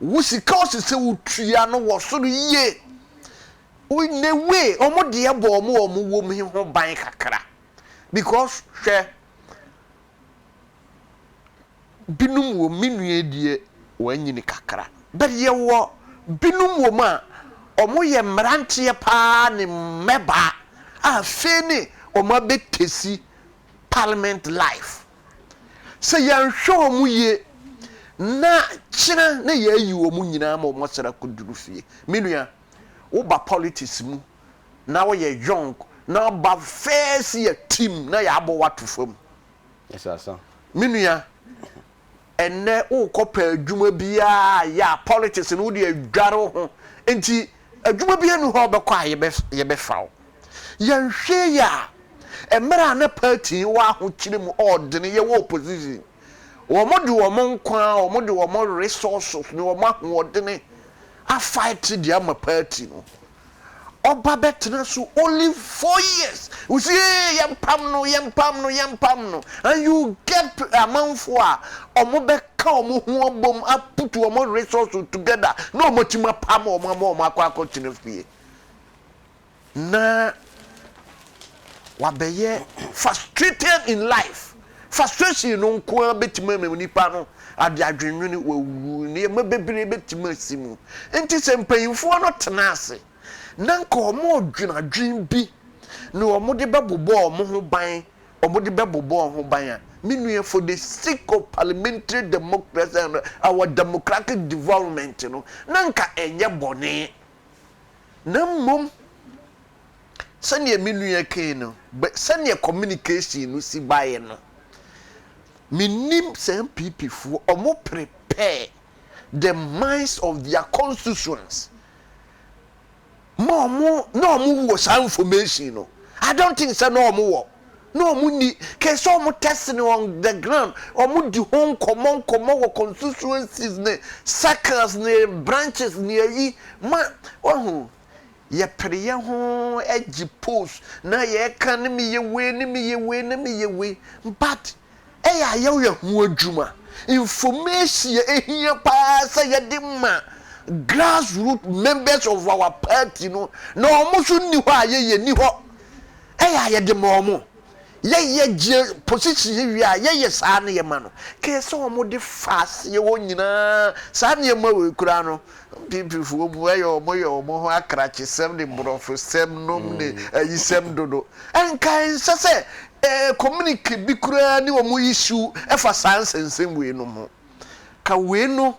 wo sika ɔsɛ sɛ wotua no wɔ soro yie In a way wɔn deɛ bɔ wɔn a wɔn wom he ho ban kakra because hwɛ, binom wom, me nua yi deɛ wanyini kakra but yɛwɔ binom wom a wɔyɛ mmeranteɛ paa ne mmɛbaa a afei ne wɔabɛtesi parliament life. Sɛ yɛanhwɛ wɔn yie na kyena na yɛayi wɔn nyinaa ma wɔasane akɔduru fie. Me nua. wo ba politics mu na wo yɛ young na wo ba first year team na yɛ abɔ wo ato fam me nua ɛnɛ wo kɔ pɛ adwuma biara yɛ a politics no wo de adware wo ho nti adwuma bi anu hɔ bɛkɔ a yɛ bɛ fa wo yɛ nhwɛ yɛ a ɛmɛrɛ a na party wɔ ahokyere mu ɔɔdene yɛ wɔ opposition wɔn de wɔn nkwa wɔn de wɔn resources ne wɔn ahoɔdene Afaete deɛ ama party no ɔba bɛtena so only four years wosi ee yɛmpam no yɛmpam no yɛmpam no and you get amanfoɔ a ɔmo bɛka ɔmo ho abom a put ɔmo resource together na ɔmo atumi apam ɔmo ama ɔmo akɔ akɔtena fie. na wabɛyɛ frustrated in life. Frustration no nko ara bɛtumi ama nnipa no ade adwennwene wawu. Nneɛma bebree bɛtumi asi mu. Nti sɛ mpanimfoɔ no tena ase na nka wɔredwene adwene bi na wɔde bɛbobɔ wɔn ho ban, wɔde bɛbobɔ wɔn ho ban a, me nua for the sake of parliamentary democracy and our democratic development no, na nka ɛnyɛ bɔne. na mmom sɛdeɛ me nua kae no, sɛdeɛ communication no si baeɛ no, mennim saa NPP foɔ, wɔn prepare the minds of their constituents ma wɔn, na wɔn wɔ saa information no, I don't think sɛ na wɔn wɔ. na ɔmo nni kɛ sɛ ɔmo tɛst no on the ground, ɔmo di ho nkɔmɔ nkɔmɔ wɔ constituencies ne circles ne branches ne ayi ma wahu yɛ pere yɛ ho gye post na yɛɛka ne meyɛ wei ne meyɛ wei ne meyɛ wei but ɛyɛ a yɛyɛ ho adwuma. Information a ehia paa sɛ yɛde ma grass root members of our party no na wɔn nso nni hɔ a yɛyɛ nni hɔ. Ɛyɛ a yɛde ma wɔn. Yɛyɛ gye position yɛ wie a yɛyɛ saa na yɛma no. Kɛɛ sɛ wɔn de fa aseɛ hɔ nyinaa saa nneɛma wei koraa no Pipifoɔ mu ayɛ wɔn yɛ wɔn ho akrakyesɛm ne borɔfosɛm nom ne ayisɛm dodo. Anka ɛnsɛ sɛ yɛ communicate bi koraa ne wɔn issue ɛfa saa nsɛnsɛm wei nom ho. Ka wei no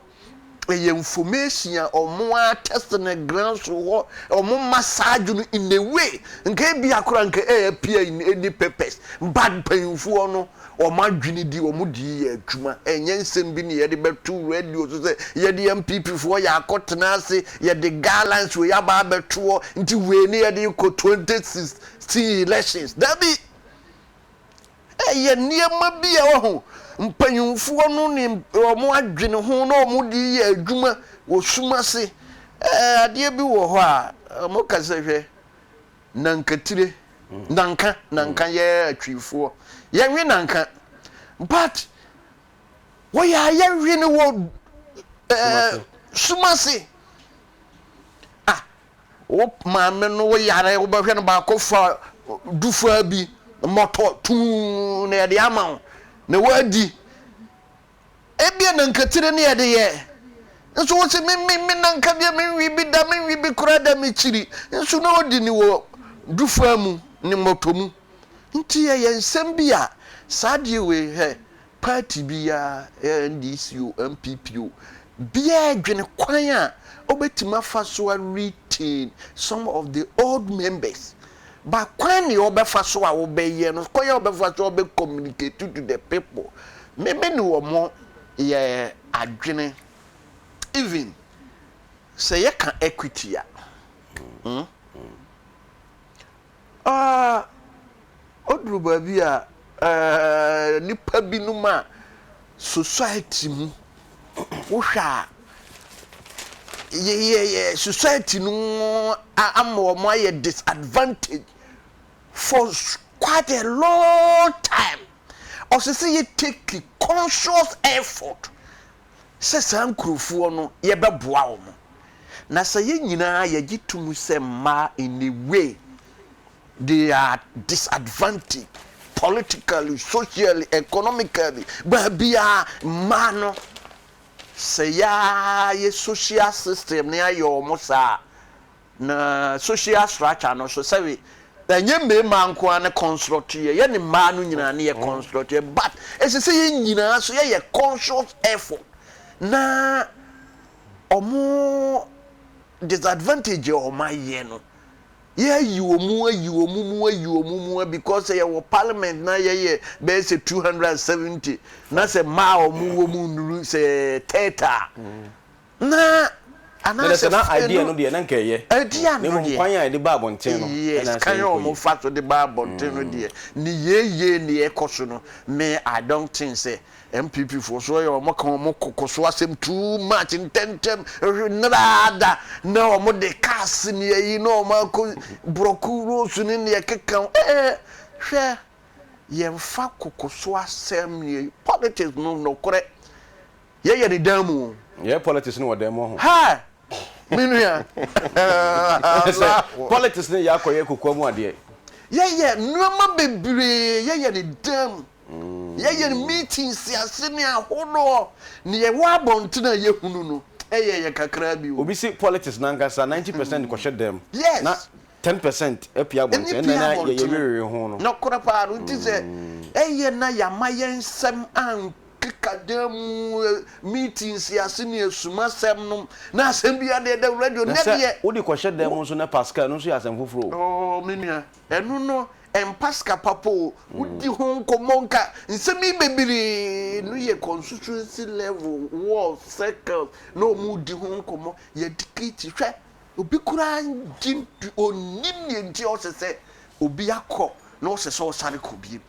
ɛyɛ information a wɔn ara test no ground so hɔ, wɔn massage no in a way nka ɛbia koraa nka ɛyɛ appear in any papers but mpanyinfoɔ no wɔn adwene di wɔn de yi yɛ adwuma. Ɛnyɛ nsɛm bi na yɛde bɛto radio so sɛ yɛde NPP foɔ yɛ akɔ tena ase, yɛde guidelines wei aba abɛto hɔ nti wei ne yɛde rekɔ 2016 elections. Dabi! Ɛyɛ nneɛma bi a wahu mpanyinfoɔ no ne wɔn adwene ho na wɔn de yɛ adwuma wɔ sum ase. Ɛɛ adeɛ bi wɔ hɔ a wɔka sɛ hwɛ Nankatire, Nanka, Nanka yɛ Twifoɔ. Yɛnwe Nanka but wɔyɛ a yɛnwe no wɔ ɛɛ Sumase. Ah, wo maame no wo yare wobɛhwɛ no baako fa dufaa bi mmɔtɔ tuu na yɛde ama wo na wadi. Ebia na nkatiri ne ɛde yɛ. Nso wo se me me me na nka deɛ me nwi bi da me nwi bi koraa da me kyiri nso na odi ne wɔ dufaa mu ne mɔtɔ mu nti ɛyɛ nsɛm bi a saa deɛ wei hɛ party bi ya NDC o NPP o biaa dwene kwan a ɔbɛtumi afa so a retain some of the old members But kwan nea ɔbɛfa so a ɔbɛyɛ no, kwan a ɔbɛfa so a ɔbɛ communicate to the people, me me ne wɔn yɛ adwene. Even sɛ yɛ ka equity a, hmm, ah, oduru baabi a, eh, nipa binom a, society mu wohwɛ a yɛyɛ society no ama wɔn ayɛ disadvantage for quite a long time ɔsɛ sɛ yɛ take conscious effort sɛ saa nkurɔfoɔ no yɛbɛboa wɔn na sɛ yɛ nyinaa yɛgye tom sɛ mmaa in a way They are disadvantaged politically, socially, economically, baabiara mmaa no sɛ yɛayɛ social system no ayɛ wɔn saa na social structure no so sɛbe ɛnyɛ mmarima nko ara ne construct yɛ yɛ ne mmaa no nyinaa ne yɛ construct yɛ but ɛsɛ sɛ yɛn nyinaa so yɛyɛ conscious effort na wɔn disadvantage a wɔayɛ no Yɛayi wɔn mu ayi wɔn mu ayi wɔn mu a because sɛ yɛwɔ parliament na yɛyɛ bɛyɛ sɛ two hundred and seventy na sɛ mmaa a wɔn wɔ mu nnuru sɛ thirty a na anaasɛ na idea no deɛ na nka ɛyɛ idea no deɛ kwan a yɛde ba abɔnten no yes kan a wɔn fa so de ba abɔnten no deɛ ne yeye ne ɛkɔ so no me i don't think sɛ NPP foɔ so yɛ wɔn ka wɔn koko so asɛm too much ntɛntɛm hwe nnɛra ara da na wɔn de cars ne ayi na wɔn akɔ brɔko rose ne neɛ ɛkeka ho ee hwɛ yɛnfa koko so asɛm yɛ politics no nɔkorɛ yɛ yɛ ne dan mu o. Yɛ yɛ politics no wɔ dan mu ɔho. Haa me nua Allahu. Politics no yɛ akɔ yɛ kokoa mu adeɛ. Yɛ yɛ nnoɔma bebree yɛ yɛ ne dan mu. Yɛ yɛn meeting nsiase ne ahodoɔ ne yɛwɔ abɔntene a yɛhunu no yɛ yɛ kakra bi o. Obi se politics nankasa ninety percent kɔhyɛ dɛm na ten percent pue abɔntene ɛnna na yɛ yɛ werewere ho no. Nokorɛ paa no nti sɛ ɛyɛ na yɛama yɛn nsɛm ankeka dan mu meeting nsiase ne asumasɛm nom na asɛm biara deɛ ɛda radio nyɛ deɛ. Na sɛ wode kɔhyɛ dɛm nso na pascal ɛno nso yɛ asɛm foforɔ o. Oh me nua Ɛno no ɛmpa sika papa o. Wodi ho nkɔmmɔ nka nsɛm yi bebree no yɛ constituency level ward circles na wɔn redi ho nkɔmmɔ yɛ dicate hwɛ obi koraa ngye ntu ɔnnim deɛ nti ɔsɛ sɛ obi akɔ na ɔsɛ sɛ ɔsane kɔ biom.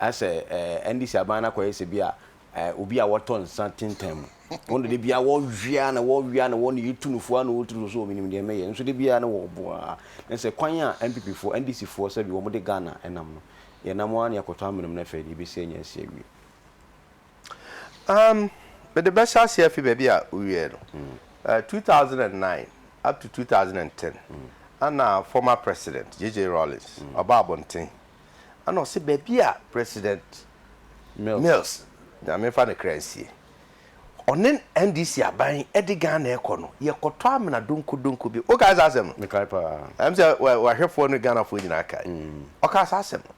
Ayɛ sɛ ɛɛ NDC aban no akɔyɛ sɛ bi a ɛɛ obi a wɔtɔ nsa tintan mu. Wɔn de da biara wɔwe ara na wɔwe ara na wɔn yɛ tu no fo ara na wɔtu no so wɔ menim deɛ mɛyɛ nso da biara na wɔbo ara. Na sɛ kwan a NPP foɔ, NDC foɔ sɛbi wɔn de Ghana nam no, yɛnam ara na yɛakɔtɔ amene mu na afei deɛ yɛbɛsi anya asi awie. Um, mede bɛhyɛ aseɛ afi baabi a wowiɛɛ no. Mm. Uh, 2009 up to 2010, mm. ana former president JJ Rawlings mm. ɔba abɔnten Ɛna ɔse baabi a President Mills, Nyame mfa ne kra nsie, ɔne NDC aban de Ghana rekɔ no, yɛkɔtɔ amena donkodonko bi. Wokae saa asɛm no? Mekae paa. Ɛm sɛ w'ahwɛfoɔ ne Ghanafoɔ nyinaa kae. Ɔkaa saa asɛm no.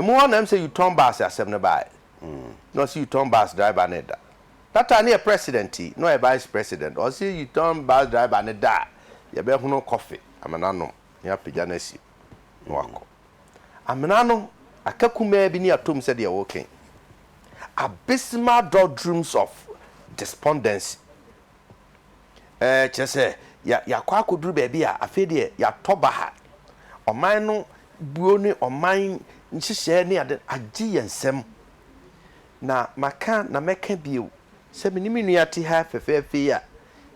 Emu hɔ na ɛm sɛ U-turn bus asɛm no baeɛ. Na ɔse U-turn bus driver no reda. That time no yɛ President yi, na ɔyɛ Vice President. Ɔse U-turn bus driver no da a, yɛbɛhono kɔfe, amena anom, na yɛapagya no asi hɔ. na wakɔ. Amena no aka kumaa bi ne atom sɛ deɛ woken abysmal doldrums of despondency. Ɛɛ kyerɛ sɛ ya yakɔ akɔduru baabi a afei deɛ yatɔ baha. Ɔman no buo ne ɔman nhyehyɛɛ ne ade agye yɛn nsam. Na maka na mɛka bio Sɛ me ne me nua te ha fɛfɛɛfɛ yi a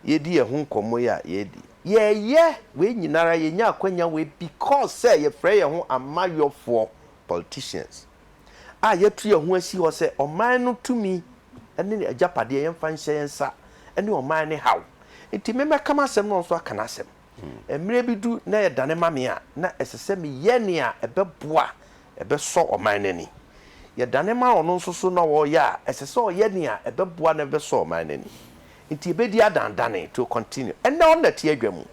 yɛredi yɛn ho nkɔmmɔ yi a yɛredi. Yɛreyɛ wei nyinara, yɛnya akwanya wei because sɛ yɛfrɛ yɛn ho amayɔfoɔ, politicians, a yɛatu yɛn ho asi hɔ sɛ ɔman no tumi ne agyapadeɛ yɛmfa nhyɛ yɛn nsa ne ɔman no haw. Nti me mɛka m'asɛm na ɔno nso aka n'asɛm. Mmerɛ bi du na yɛdane ma me a, na ɛsɛ sɛ meyɛ nea ɛbɛboa ɛbɛsɔ ɔman no ani. Yɛdane ma ɔno nso so na ɔreyɛ a, ɛsɛ sɛ ɔyɛ nea ɛbɛboa na ɛbɛsɔ ɔman no ani. Nti ɛbɛdi adandane, it will continue. Ɛnnɛ ɔnnɛte adwa mu.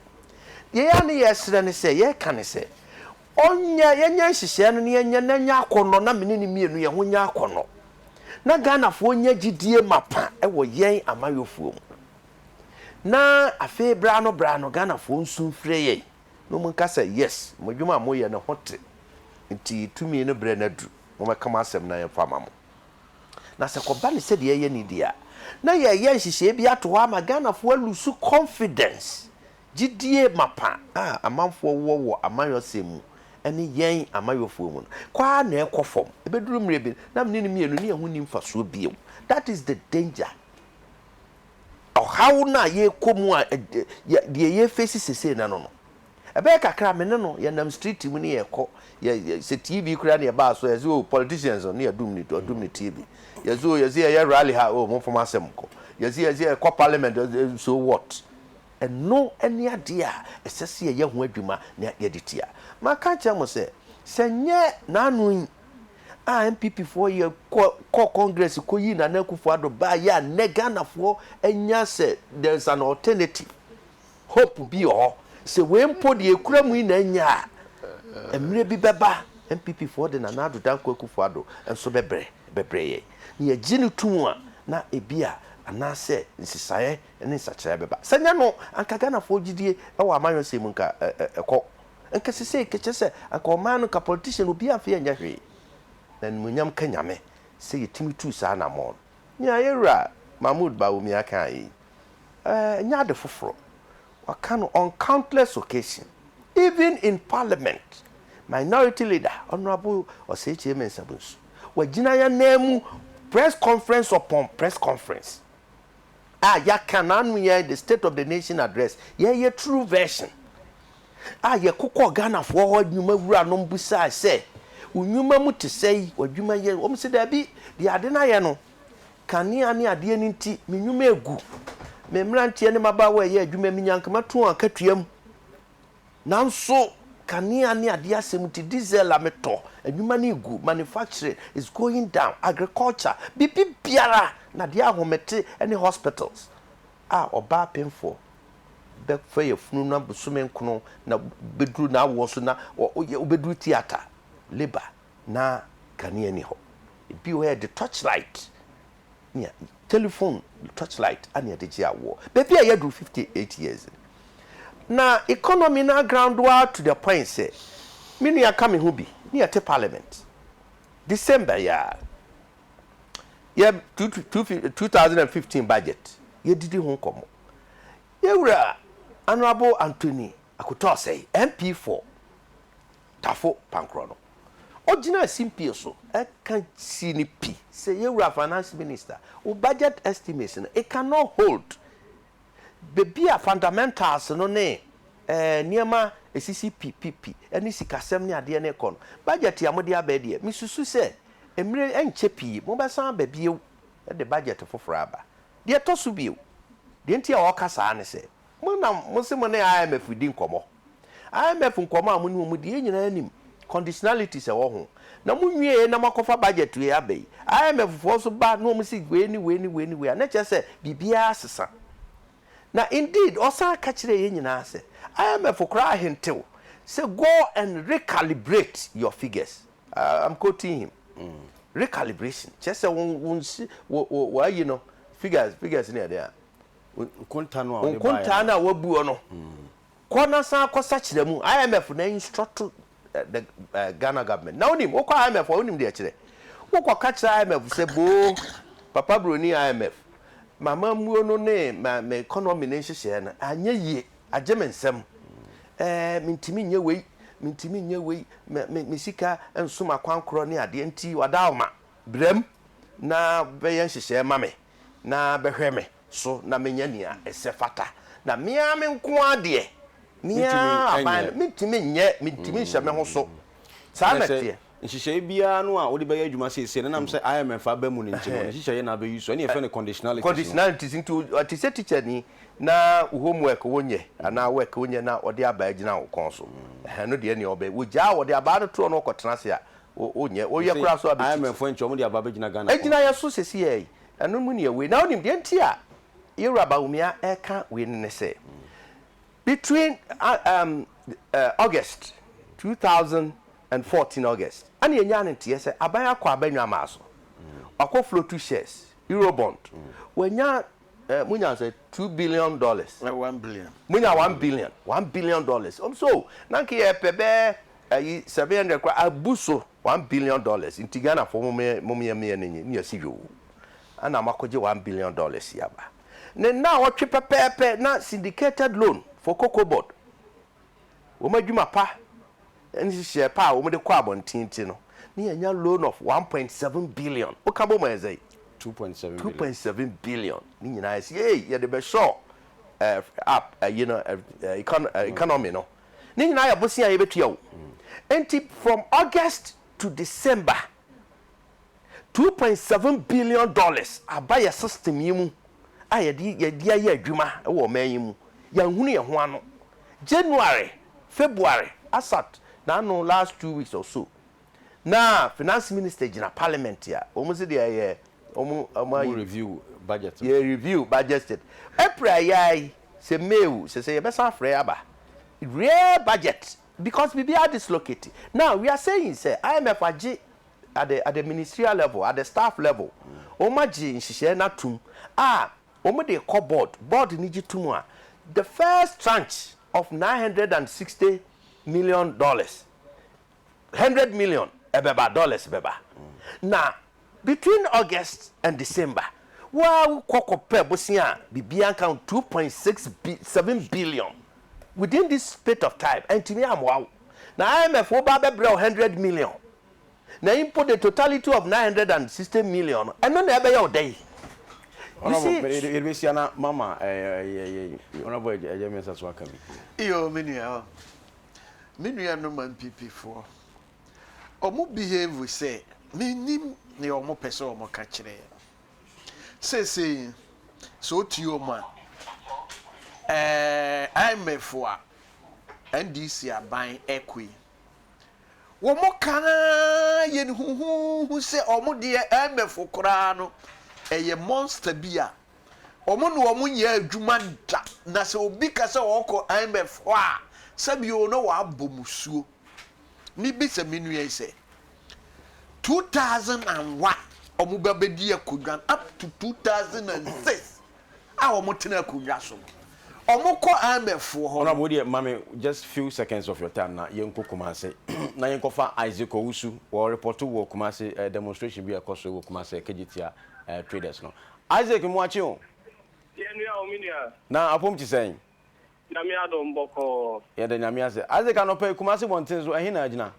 Deɛ yɛ a ne yɛresrɛ ne sɛ, yɛreka ne sɛ, ɔnyɛ, yɛnyɛ nhyehyɛɛ no na yɛnyɛ na ɛnyɛ akɔnnɔ na me ne no mmienu yɛn ho nyɛ akɔnnɔ. Na Ghanafoɔ nya gyidie mapa wɔ yɛn amayɔfoɔ mu. na afei berɛ ano berɛ ano Ghanafoɔ nsu mfrɛ yɛn na wɔn nka sɛ yes mo adwuma a moyɛ no ho te nti tumi no berɛ no aduru mommɛka mo asɛm na yɛmfa ma mo na sɛ kɔba no sɛdeɛ yɛyɛ no deɛ a na yɛyɛ nhyehyɛɛ bi ato hɔ ama Ghanafoɔ alusu confidence, gyidie mapa a amanfoɔ wɔ wɔ amayɔsɛm mu ne yɛn amayɔfoɔ mu no kɔ ara na ɛkɔ fam ɛbɛduru mmerɛ bi no na mene no mmienu ne yɛn ho nni mfasoɔ bio that is the danger. ɔhaw no a yɛrekɔ mu a deɛ yɛrefesi sesei na no no. Ɛbɛyɛ kakra me ne no yɛnam street mu ne yɛkɔ yɛ sɛ TV koraa ne yɛbaa so yɛse oh politicians no ne yɛdum ne ɔdum ne TV yɛse oh yɛse yɛyɛ rally ha oh momfa mo asɛm nkɔ yɛse yɛse yɛkɔ parliament so what ɛno ne adeɛ a ɛsɛ sɛ yɛyɛ ho adwuma na yɛde tia. Maka akyerɛ mo sɛ sɛ nyɛ n'ano yi. a NPP foɔ yɛ kɔ kɔɔ congress kɔ yii Nana Akufo Addo baa yɛ a nnɛ Ghana foɔ anya sɛ there is an alternative hope bi wɔ hɔ sɛ wei mpo deɛ ekura mu yi na anya a mmerɛ bi bɛba NPP foɔ de Nana Addo Dankwa Akufo Addo nso bɛbrɛ bɛbrɛ yɛn na yɛgye no to mu a na ebi a anaasɛ nsesaeɛ ne nsakyeraeɛ bɛba sɛ nyɛ no anka Ghana foɔ gyidie wɔ amanyɔsɛm mu nka ɛkɔ Anka sesei kɛkyɛ sɛ anka ɔman no nka politician obiaa mfee anyɛ hwee. Na animuonyam nka Nyame sɛ yɛtumi tuu saa anamɔn no. Nea yɛn wura Mahmoud Bawumia kaeɛ yi, ɛnyɛ ade foforɔ. Waka no on countless occasion, even in parliament, minority leader Honourable Osekyere Mensah-Bonsu, wagyina yɛn nan mu press conference upon press conference a yɛaka no ano yɛ the state of the nation address yɛyɛ true version a yɛkokɔ ghanafoɔ hɔ nnwuma wura nom bisae sɛ nnwuma mu te sɛ yi wadwuma yɛ wɔn sɛ daabi deɛ ade no ayɛ no kanea ne adeɛ no nti me nnwuma egu me mmeranteɛ ne mabaawa ɛyɛ adwuma mi nyankama tu wɔn akatua mu Nanso kanea ne adeɛ asɛm nti diesel a metɔ, adwuma no regu, manufacturing is going down, agriculture, biribibiara na deɛ ahomete ne hospitals a ɔbaa penfoɔ bɛfa yafunu na bosome nkono na bɛduru n'awoɔ so na wobɛduru theatre, labour na kanea nni hɔ. Ebi wɔ hɔ a yɛde torchlight nea telephone torchlight a na yɛde gye awoɔ. Baabi a yɛaduru fifty eight years no, na economy no aground ara to the point sɛ, me nua ka me ho bi, ne yɛte parliament December yi ara, yɛ two two two thousand and fifteen budget, yɛdidi ho nkɔmmɔ. Yɛn wura Honourable Anthony Akoto Osei, MP for. Tafo Pankrɔ no. Ɔgyinaa simpie so ka sii no pi sɛ, Yɛn Wura Finance Minister, wo budget estimates no, it can not hold. Baabi a fundamentals no ne nneɛma a ɛsisi pi pi pi ne sikasɛm ne adeɛ no rekɔ no, budget a mode aba yi deɛ, mesusu sɛ mmerɛ yi ɛnkyɛ pii mobɛsan aba bio de budget foforɔ aba. Deɛ ɛtɔ so bio, deɛ nti a ɔreka saa ne sɛ, mo na mose mo ne IMF redi nkɔmmɔ. IMF nkɔmmɔ a mo ne wɔn di, yɛn nyinaa nim conditionalities a ɛwɔ ho. Na mo nwieɛ na mo akɔfa budget wei aba yi. IMF foɔ nso ba na wɔn se wei ne wei ne wei ne wei a, na ɛkyerɛ sɛ biribiara asesa. Na indeed ɔsan ka kyerɛɛ yɛn nyinaa sɛ IMF koraa ahentew sɛ go and recalibrate your figures. I'm quoting him. Recalibration kyerɛ sɛ wɔn wɔn si wɔ wɔ wɔayi no figures figures ne ɛdeɛ a. Nkontaa no a wɔde baeɛ no. Nkontaa no a wɔabuo no. Kɔ na san kɔ sakyera mu, IMF na instruct the Ghana government. Na wonim, wokɔ IMF a wonim deɛ ɛkyerɛ. Wokɔ ka kyerɛ IMF sɛ boo, papa broni IMF, m'amammuo no ne me economy no nhyehyɛɛ no anyɛ yie, agye me nsam. Ɛɛ, mentumi nyɛ wei, mentumi nyɛ wei, me, me, me sika nso m'akwankorɔ ne adeɛ nti, Wadaoma, bram na bɛyɛ nhyehyɛɛ ma me na bɛhwɛ me. so na menya nea ɛsɛ fata, na me ara me nko ara deɛ, me ara aban no, mentumi nyɛ, mentumi nhyɛ me ho so. Saa na ɛteɛ. Nhyehyɛe biara no a wode bɛyɛ adwuma seesei no, ɛnam sɛ IMF aba mu no nti no, ne nhyehyɛe na abɛ use, ɛne yɛfrɛ no conditionalities no. Conditionalities, nti te sɛ tikyani na wo home work wonyɛ anaa work wonyɛ na ɔde abaa gyina wo kɔn so, ɛno deɛ ɛneɛ ɔbɛ, wogyaa a ɔde abaa no toɔ na ɔkɔtena ase a, wonyɛ, woyɛ koraa nso a bɛkyiti. IMF fo nkyɛ wɔn de abaa bɛgyina Ghana kɔn so. Ɛgyina yɛn so seesei ara yi, Ɛno mu nea wei. Na wonim deɛ nti a yɛn Wura Bawumia reka wei no ne sɛ, between um, uh, August 2014 August ɛna yɛnyaa no nteɛ sɛ aban akɔ aba nnwamaa so, wakɔ flotu shares, Eurobond, wanya eh, munya sɛ two billion dollars, Eh, one billion. munya one billion, one billion dollars. Ɔm so, na nka yɛpɛ bɛɛ ayi 700 kora abu so. One billion dollars nti Ghanafoɔ mom yɛ meyɛ no nye ne yɛse yoo ɛna makɔgye one billion dollars yi aba ne nnawɔtwe pɛpɛɛpɛ na syndicated loan for cocoa board wɔn adwuma pa ne nhyehyɛɛ pa a wɔn de kɔ abɔnten nti no ne yɛanya loan of one point seven billion woka bɔ mu ayɛ sɛn two point seven two point seven billion ne nyinaa yɛse yei yɛde bɛshore eh, up ɛyi no eh, eh, econ- eh, economy no Ne nyinaa yɛ bosea a yɛbɛtua o. Enti from August to December, two point seven billion dollars aba yɛn system yi mu a yɛde yɛde ayɛ adwuma wɔ ɔman yi mu. Yɛanhunu yɛn ho ano. January, February, asat n'ano last two weeks or so, Na finance minister gyina parliament a wɔn se deɛ yɛ wɔn wɔn ayi. Wɔn review budget no. Yɛ review budget it. April a yɛ ara yi sɛ May o sɛ sɛ yɛbɛsan afrɛ aba real budget because biribi ara dislocate. Now we are saying sɛ IMF agye at the at the ministerial level at the staff level wɔn agye nhyehyɛɛ no atum a wɔn de rekɔ board board no gye tum a the first tranche of nine hundred and sixty million dollars. hundred million ɛbɛba dollars bɛba na between August and December waa wo kɔ kɔ pɛ bosea a biribiara nka ho two point six bi seven billion within this spate of time antumi ammoa wo na IMF fo ba abɛbrɛ wo hundred million na mpo the totality of nine hundred and sixty million no ɛno na ɛbɛyɛ wo dɛ yi. Honourable, yɛde bɛhyia na mama eh, eh, eh, eh, Honourable Agya Mensah so aka bi. Iyo, me nua. Me nuanom ampipifoɔ, wɔn behave sɛ mennim nea wɔpɛ sɛ wɔka kyerɛ yɛn. Seesei, sɛ wotie wɔn a, ɛɛ IMF a NDC aban ɛkɔ yi, wɔka ara yɛn huhuhu sɛ wɔn deɛ IMF koraa no ɛyɛ monster bi a Wɔn ne wɔn nyɛ adwuma da, na sɛ obi ka sɛ ɔrekɔ IMF hɔ a, sɛ me oo, na wɔabɔ musuo. Mebisa me nua yi sɛ, 2001 wɔn ba bɛdi akonnwa no up to 2006 a wɔn tena akonnwa so no, wɔn kɔ IMF foɔ hɔ no. Honourable wo deɛ ma me just few seconds of your time na yɛn kɔ Kumasi na yɛn kɔ fa Isaac Owusu wɔ report wɔ Kumasi demonstration bi a ɛkɔ so wɔ Kumasi ɛkɛgye tia traders no. Isaac Moakye o. Yɛn nua o, me nua. Na apom te sɛn? Nyame adom bɔkɔɔ. Yɛda Nyame ase. Isaac anɔpa yi Kumasi mmɔnten so, ɛhe na agyina?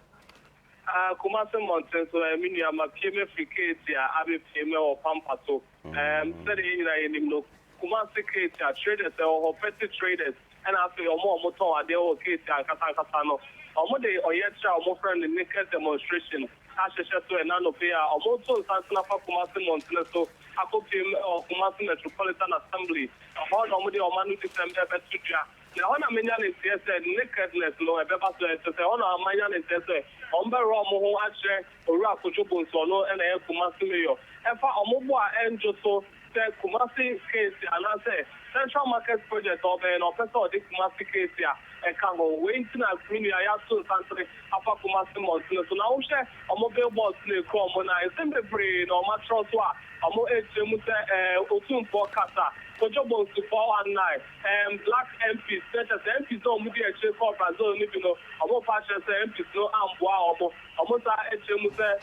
Ah, Kumasi mmɔnten so eh, me nua, mapue mafiri Keetia abɛpue mɛwɔ Pampa so. Ɛɛm, sɛdeɛ yɛn nyinaa yɛnim no, Kumasi Keetia, traders wɔ hɔ, petty traders. Ɛna afei wɔn a wɔtɔn adeɛ wɔ Keeti ankasa ankasa no, wɔde ɔyɛkyerɛ a wɔfrɛ no Naked Demonstration ahyehyɛ so ɛna anɔpa yi a wɔreto nsansene afa Kumasi mmɔntene so akɔpiem wɔ Kumasi Metropolitan Assembly. Ɛhɔ na wɔde wɔn anodisɛm rebɛto dwa. Na ɛhɔ na menya no nteɛ sɛ nakedness no ɛbɛba so. Ɛkyerɛ sɛ ɛhɔ na manya no nteɛ sɛ wɔbɛwerɛ wɔn ho akyerɛ Owura Kojo Bonsu, ɔno na ɛyɛ Kumasi Mayor, ɛfa wɔn bo a ɛnnwo so, sɛ Kumasi Keesi anaasɛ Central Market Project a ɔbɛyɛ no, ɔpɛ sɛ ɔde Kumasi Keesi a ɛka ho. Wei nti na me nua yi ato nsantere afa Kumasi mmɔntene so. Na wohwɛ wɔn billboards no a ɛkura wɔn no a, nsɛm bebree na wɔakyerɛw so a wɔrekyerɛ mu sɛ, ɛɛ, Otumfoɔ kasa, Kojo Bonsu four one nine, ɛɛm, Black MPs, na kyerɛ sɛ MPs a wɔdii akyire kɔɔ Brazil no bi no, wɔrefa akyerɛ sɛ MPs no ammoa wɔn. Wɔsan kyerɛ mu sɛ.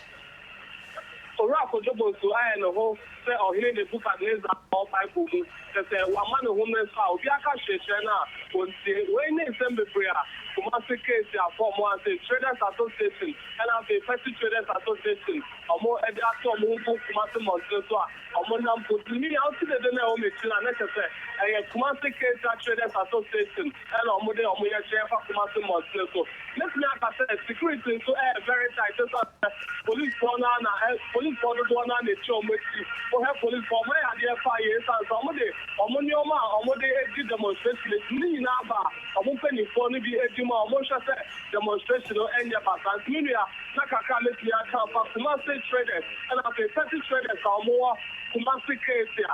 Owura Kojo Bonsu ayɛ ne ho sɛ Ɔhene Nebukadnesar a ɔwɔ Bible mu, kyerɛ sɛ wama ne ho mmere so a obiara ka kyerɛkyerɛ no a, ontie. Wei ne nsɛm bebree a Kumasi case a Form I sɛ Traders Association ɛna afei Petty Traders Association wɔn de ato wɔn ho gu Kumasi mmɔntene so a wɔn nam mpo. Mimi a wote dede no a ɛwɔ m'akyi no a na kyerɛ sɛ ɛyɛ Kumasi Keita Traders Association. ɛna wɔde wɔn yɛ hyɛn fa Kumasi Mosque so. Mɛtumi aka sɛ security nso yɛ very tight ɛsiane sɛ police foɔ no ara na ɛ police foɔ dodoɔ no ara na ɛgyina wɔn akyi. Wohwɛ police foɔ wɔyɛ adeɛ fine yie ɛsiane sɛ wɔde wɔn nneɛma a wɔde di demonstration nti ne nyinaa ba a wɔn mpaninfoɔ no bi di mu a wɔhwɛ sɛ demonstration no nyɛ basaa. Nti me nua na kakra a mɛtumi aka afa Kumasi traders ɛna afei petty traders a wɔwɔ Kumasi Kasia.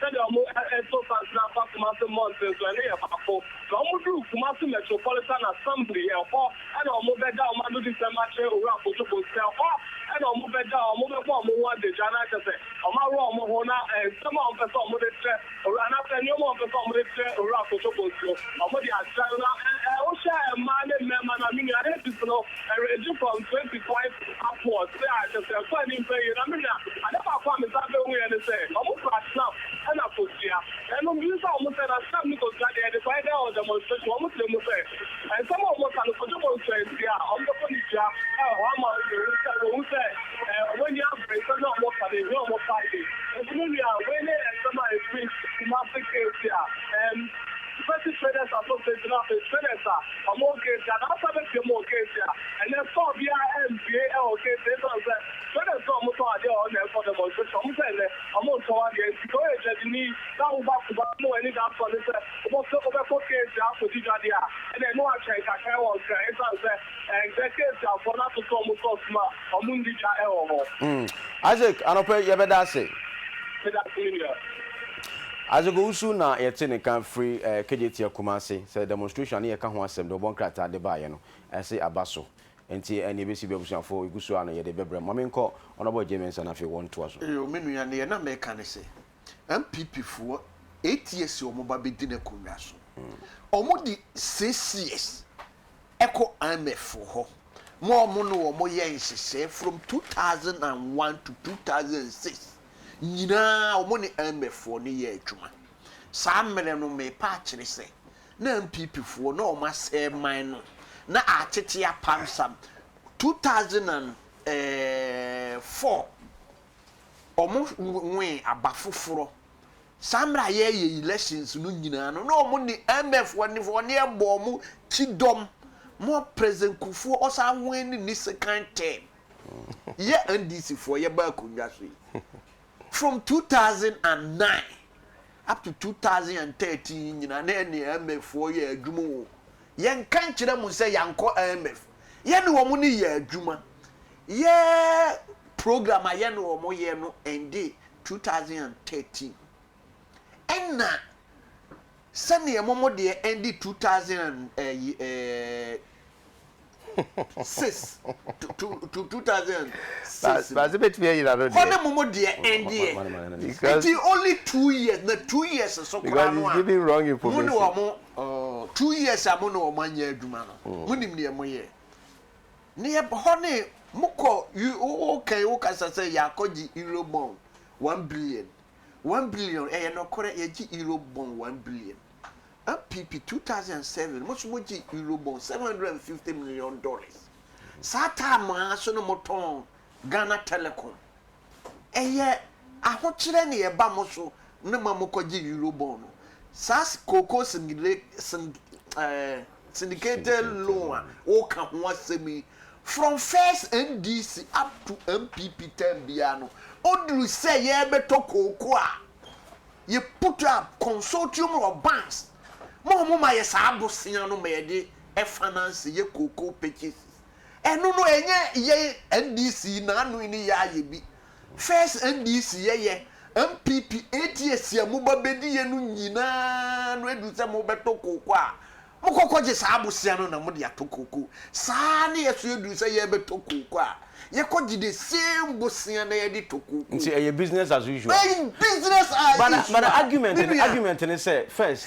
Sɛdeɛ wɔto sansene afa Kumasi mmɔnten so, ɛno yɛ baako. Sɛ wɔduru Kumasi Metropolitan Assembly, ɛhɔ na wɔbɛda wɔn adodisɛm akyerɛ Owura Kojo Bonsah. Ɛhɔ na wɔbɛda, wɔbɛbɔ wɔn ho adagya na kyerɛ sɛ wɔaworɔ wɔn ho na nsɛm a wɔpɛ sɛ wɔde kyerɛ Owura anaasɛ nneɛma a wɔpɛ sɛ wɔde kyerɛ Owura Kojo Bonsah no, wɔde akyerɛ no. Na wohwɛ mmaa ne mmarima no a, me nua, APC no, ranging from 25. Afoa, Sɛ anhwɛ sɛ ɛkɔɔ anim pɛn yie na menya. Ade baako a mesan behuiɛ ne sɛ, wɔkura snap ɛna kosua. Ɛno mebisa wɔn sɛ, na snap ne kosua deɛ, ɛde kwan dɛn wɔ demonstration? Wɔkyerɛ mu sɛ, nsɛm a wɔka no, Kojo Bonsu antie a, wɔbɛkɔ ne dua hɔ ama wɔahu sɛ wɔn ani abere, nsɛm no a wɔka no, ɛhia wɔn paa yie. Nso me nua, wei ne nsɛm a ɛfiri Kumasi KC a ɛɛm. Wobɛte traders asɔfdɛ gyina afei traders a ɔmo wɔ gate anaasɛ bɛpia mu wɔ gate a ɛnɛ store biaa ɛmpue ɛwɔ gate ɛsiane sɛ traders no a ɔmo tɔn adeɛ wɔ hɔ na ɛkɔ demonstration ɔmo sɛ ɛnɛ ɔmo ntɔn adeɛ nti sɛ woyɛ dwadini na woba kuba na w'ani da store ne sɛ wobɔ wobɛkɔ gate akɔdi dwadeɛ a ɛnɛ ɛne wo atwɛn kakra ɛwɔ nkran ɛsiane sɛ Ɛnsɛ sɛ akuafoɔ no ato sɛ wɔn socks mu a wɔn nni dwa wɔ hɔ. Mm Isaac anɔpa yi yɛbɛda ase. Meda ase me nua. Isaac Owusu na yɛte ne nka firi KJTF Kumasi sɛ demonstration a ne yɛka ho asɛm de wɔbɔ nkrataa de baeɛ no ɛse aba so nti nea ɛbɛsi biara abusuafoɔ yɛgu so ara na yɛde bɛbrɛ mo. Ma menkɔ Honourable Agyei Mensah na afei wɔntoa so. Eyo me nua neɛ na meka ne sɛ NPP foɔ eight years wɔn ba bɛdi no akonnwa so wɔn di six years kɔ IMF foɔ hɔ ma wɔn ne wɔn yɛ nhyehyɛɛ from two thousand and one to two thousand and six nyinaa wɔn ne IMF foɔ no yɛ adwuma saa mmerɛ no mepa akyere sɛ na NPP foɔ na wɔn asɛɛ man no na akyekye apam sam two thousand and four wɔn wee aba foforɔ. Saa mmerɛ a yɛreyɛ elections no nyinaa no, na wɔn ne IMF wɔn ne wɔn bɔ wɔn kyidɔm. More President Kufuor Osahoe ne ne second term. Yɛ NDC foɔ yɛba akonnwa so yi. From 2009 up to 2013 nyinaa na yɛne IMF foɔ yɛ adwuma o. Yɛnka nkyerɛ mo sɛ yɛankɔ IMF. yɛne wɔn ne yɛ adwuma yɛ program a yɛne wɔn yɛ no ɛnde 2013 ɛna sɛdeɛ wɔn deɛ ɛnde 2000 six to to to two thousand six. baasi betumi ayira no deɛ. kɔne mu mu deɛ ɛndeɛ. because it is only two years na two years so kura no a. because he is giving wrong information. mu ni wɔn. Oh two years a mo ne wɔn anyɛ adwuma no, mo nim deɛ mo yɛ. Ne yɛ hɔ ne mo kɔ wo kan wo kasa sɛ yɛakɔ gye euro bond one billion one billion ɛyɛ nɔkorɛ yɛgye euro bond one billion. NPP two thousand and seven mo so mo gye euro bond seven hundred and fifty million dollars saa taa mo ara so no mo tɔn Ghana telecom. Ɛyɛ ahokyerɛ na ɛba mo so no ma mokɔgye Eurobond no. Saa kookoo syndicated loan a woka ho asɛm yi, from first NDC up to NPP term biara no, oduru sɛ yɛrebɛtɔ kookoo a, yɛ put up consortium of banks ma wɔma yɛ saa bosea no ma yɛde finance yɛ kookoo purchases Ɛno no ɛnyɛ yɛn NDC naano yi ne yɛ ayɛ bi. First NDC yɛ yɛ, NPP, ATS a moba bedi yɛ no nyinaa no ɛduru sɛ mobɛto kooko a mokɔ kɔgye saa abosea no na mode ato kooko. Saa ara ne yɛ so ɛduru sɛ yɛbɛtɔ kooko a yɛkɔ gye the same bosea na yɛde tɔ kooko. Nti ɛyɛ business as usual. Ɛyɛ business as usual. But the argument no, argument no sɛ first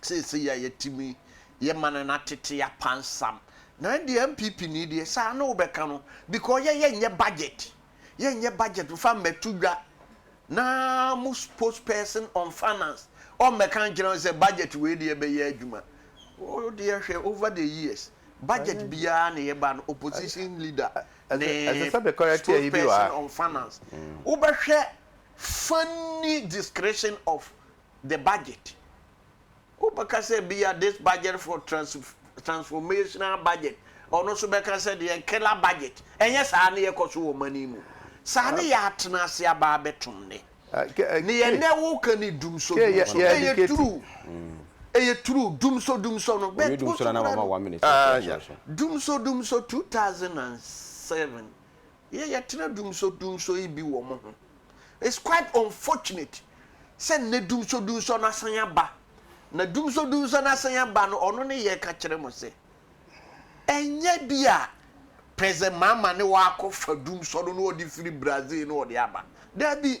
seesei a yɛtumi yɛ ma no no atete apansam. Na ɛndeɛ NPP ni deɛ saa na wobɛka no because yɛ yɛnyɛ budget, yɛnyɛ budget mfa mmɛto dwa na mo spokesperson on finance ɔmmɛka nkyerɛ wo sɛ budget wei deɛ ɛbɛyɛ adwuma. Wo deɛ hwɛ over the years budget biara na ɛba no opposition leader ne spokesperson on finance wobɛhwɛ funny discretion of the budget. Wobɛka sɛ ebia this budget for trans transformational budget, ɔno nso bɛka sɛ deɛ killer budget. Ɛnyɛ saa ne yɛkɔ so wɔ ɔman yi mu. Saa ne yɛatena ase aba abɛtom nnɛ. Ne yɛ nnɛ woka ne dumsɔ dumsɔ. Ɛyɛ true. Ɛyɛ true. Dumsɔ dumsɔ no. But wo so kura no. Dumsɔ dumsɔ 2007 Yɛ yɛtena dumsodumso yi bi wɔ mo ho. It's quite unfortunate sɛ nnɛ dumsodumso no asan aba. Na dumsodumso no asan aba no, ɔno ne yɛka kyerɛ mo sɛ, ɛnyɛ bi a President Mahama ne wo akɔfa dumsɔ no na ɔde firi Brazil na ɔde aba. Dabi!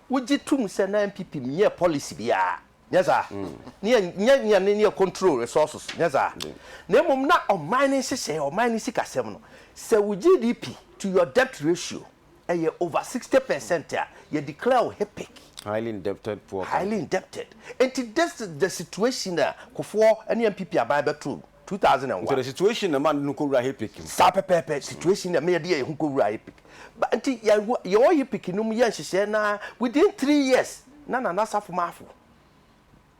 Wogye tom sɛ na NPP nnyɛɛ policy biara, nyɛ saa? Ne yɛ nnyɛ nea ne ne yɛ control resources, nyɛ saa? Na mmom na ɔman ne nhyehyɛe, ɔman ne sikasɛm no, sɛ wo GDP to your debt ratio yɛ over sixty per cent a, yɛ declare wo HIPC. Highly indebted poor country. Highly indebted. Enti this is the situation a Kufuor ne NPP aban bɛtoo mu. two thousand and one. Nti the situation na ma ne ho kɔwura HIPIC mu. Saa pɛpɛɛpɛ, situation na ma yɛde yɛn ho kɔwura HIPIC. Ba nti yɛho yɛwɔ HIPIC no mu yɛ nhyehyɛɛ no ara within three years na Nana Asafo Marfo,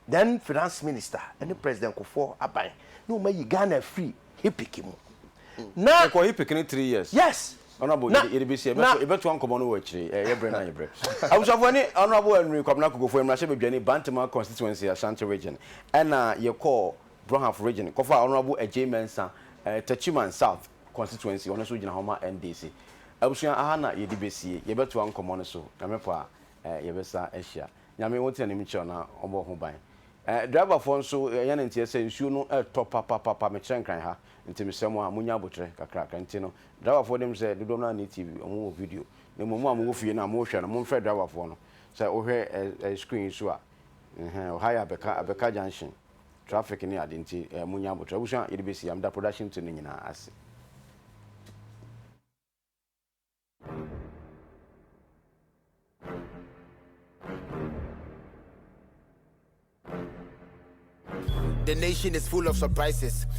then Finance Minister, ne President Kufuor aban na wɔn ayi Ghana afiri HIPIC mu. Na. Yɛkɔ HIPIC no three years. Yes. Honourable Na- yɛde yɛde besi na- ɛbɛto ɛbɛtoa nkɔmɔ no wɔ akyire ɛ yɛ brɛ na yɛ brɛ. Abusuafo ɛne Honourable Henry Kwabena Kokofo mmarahyɛbadwani Bantama constituency Ashanti region ɛna yɛkɔɔ Bronhaf Region kɔfaa Honourable Agyei Mensah Techiman South Constituency, ɔno nso gyina hɔ ma NDC. Abusua aha na yɛde bɛsie, yɛbɛtoa nkɔmmɔ no so, Nyame pɛ a yɛbɛsa ahyia. Nyame wo tena anim kyerɛ na ɔmmɔ wo ho ban. Driver foɔ nso yɛn ne nteɛ sɛ nsuo no ɛtɔ papapapa, mekyerɛ nkran ha nti mesrɛ mo a monya aboterɛ kakrakra nti no driver foɔ deɛm sɛ dodoɔ no ara nni TV, ɔmo wɔ video na mmom mo a mowɔ fie no a mo hwɛ no momfrɛ driver foɔ no sɛ wo hwɛ screen yi so a, ɛhɛɛ ɔha yɛ abɛka abɛka junction. Traffic ne ade nti eh monya abotrɛ abusua yɛde bɛsi ha meda production team no nyinaa ase. The nation is full of surprises.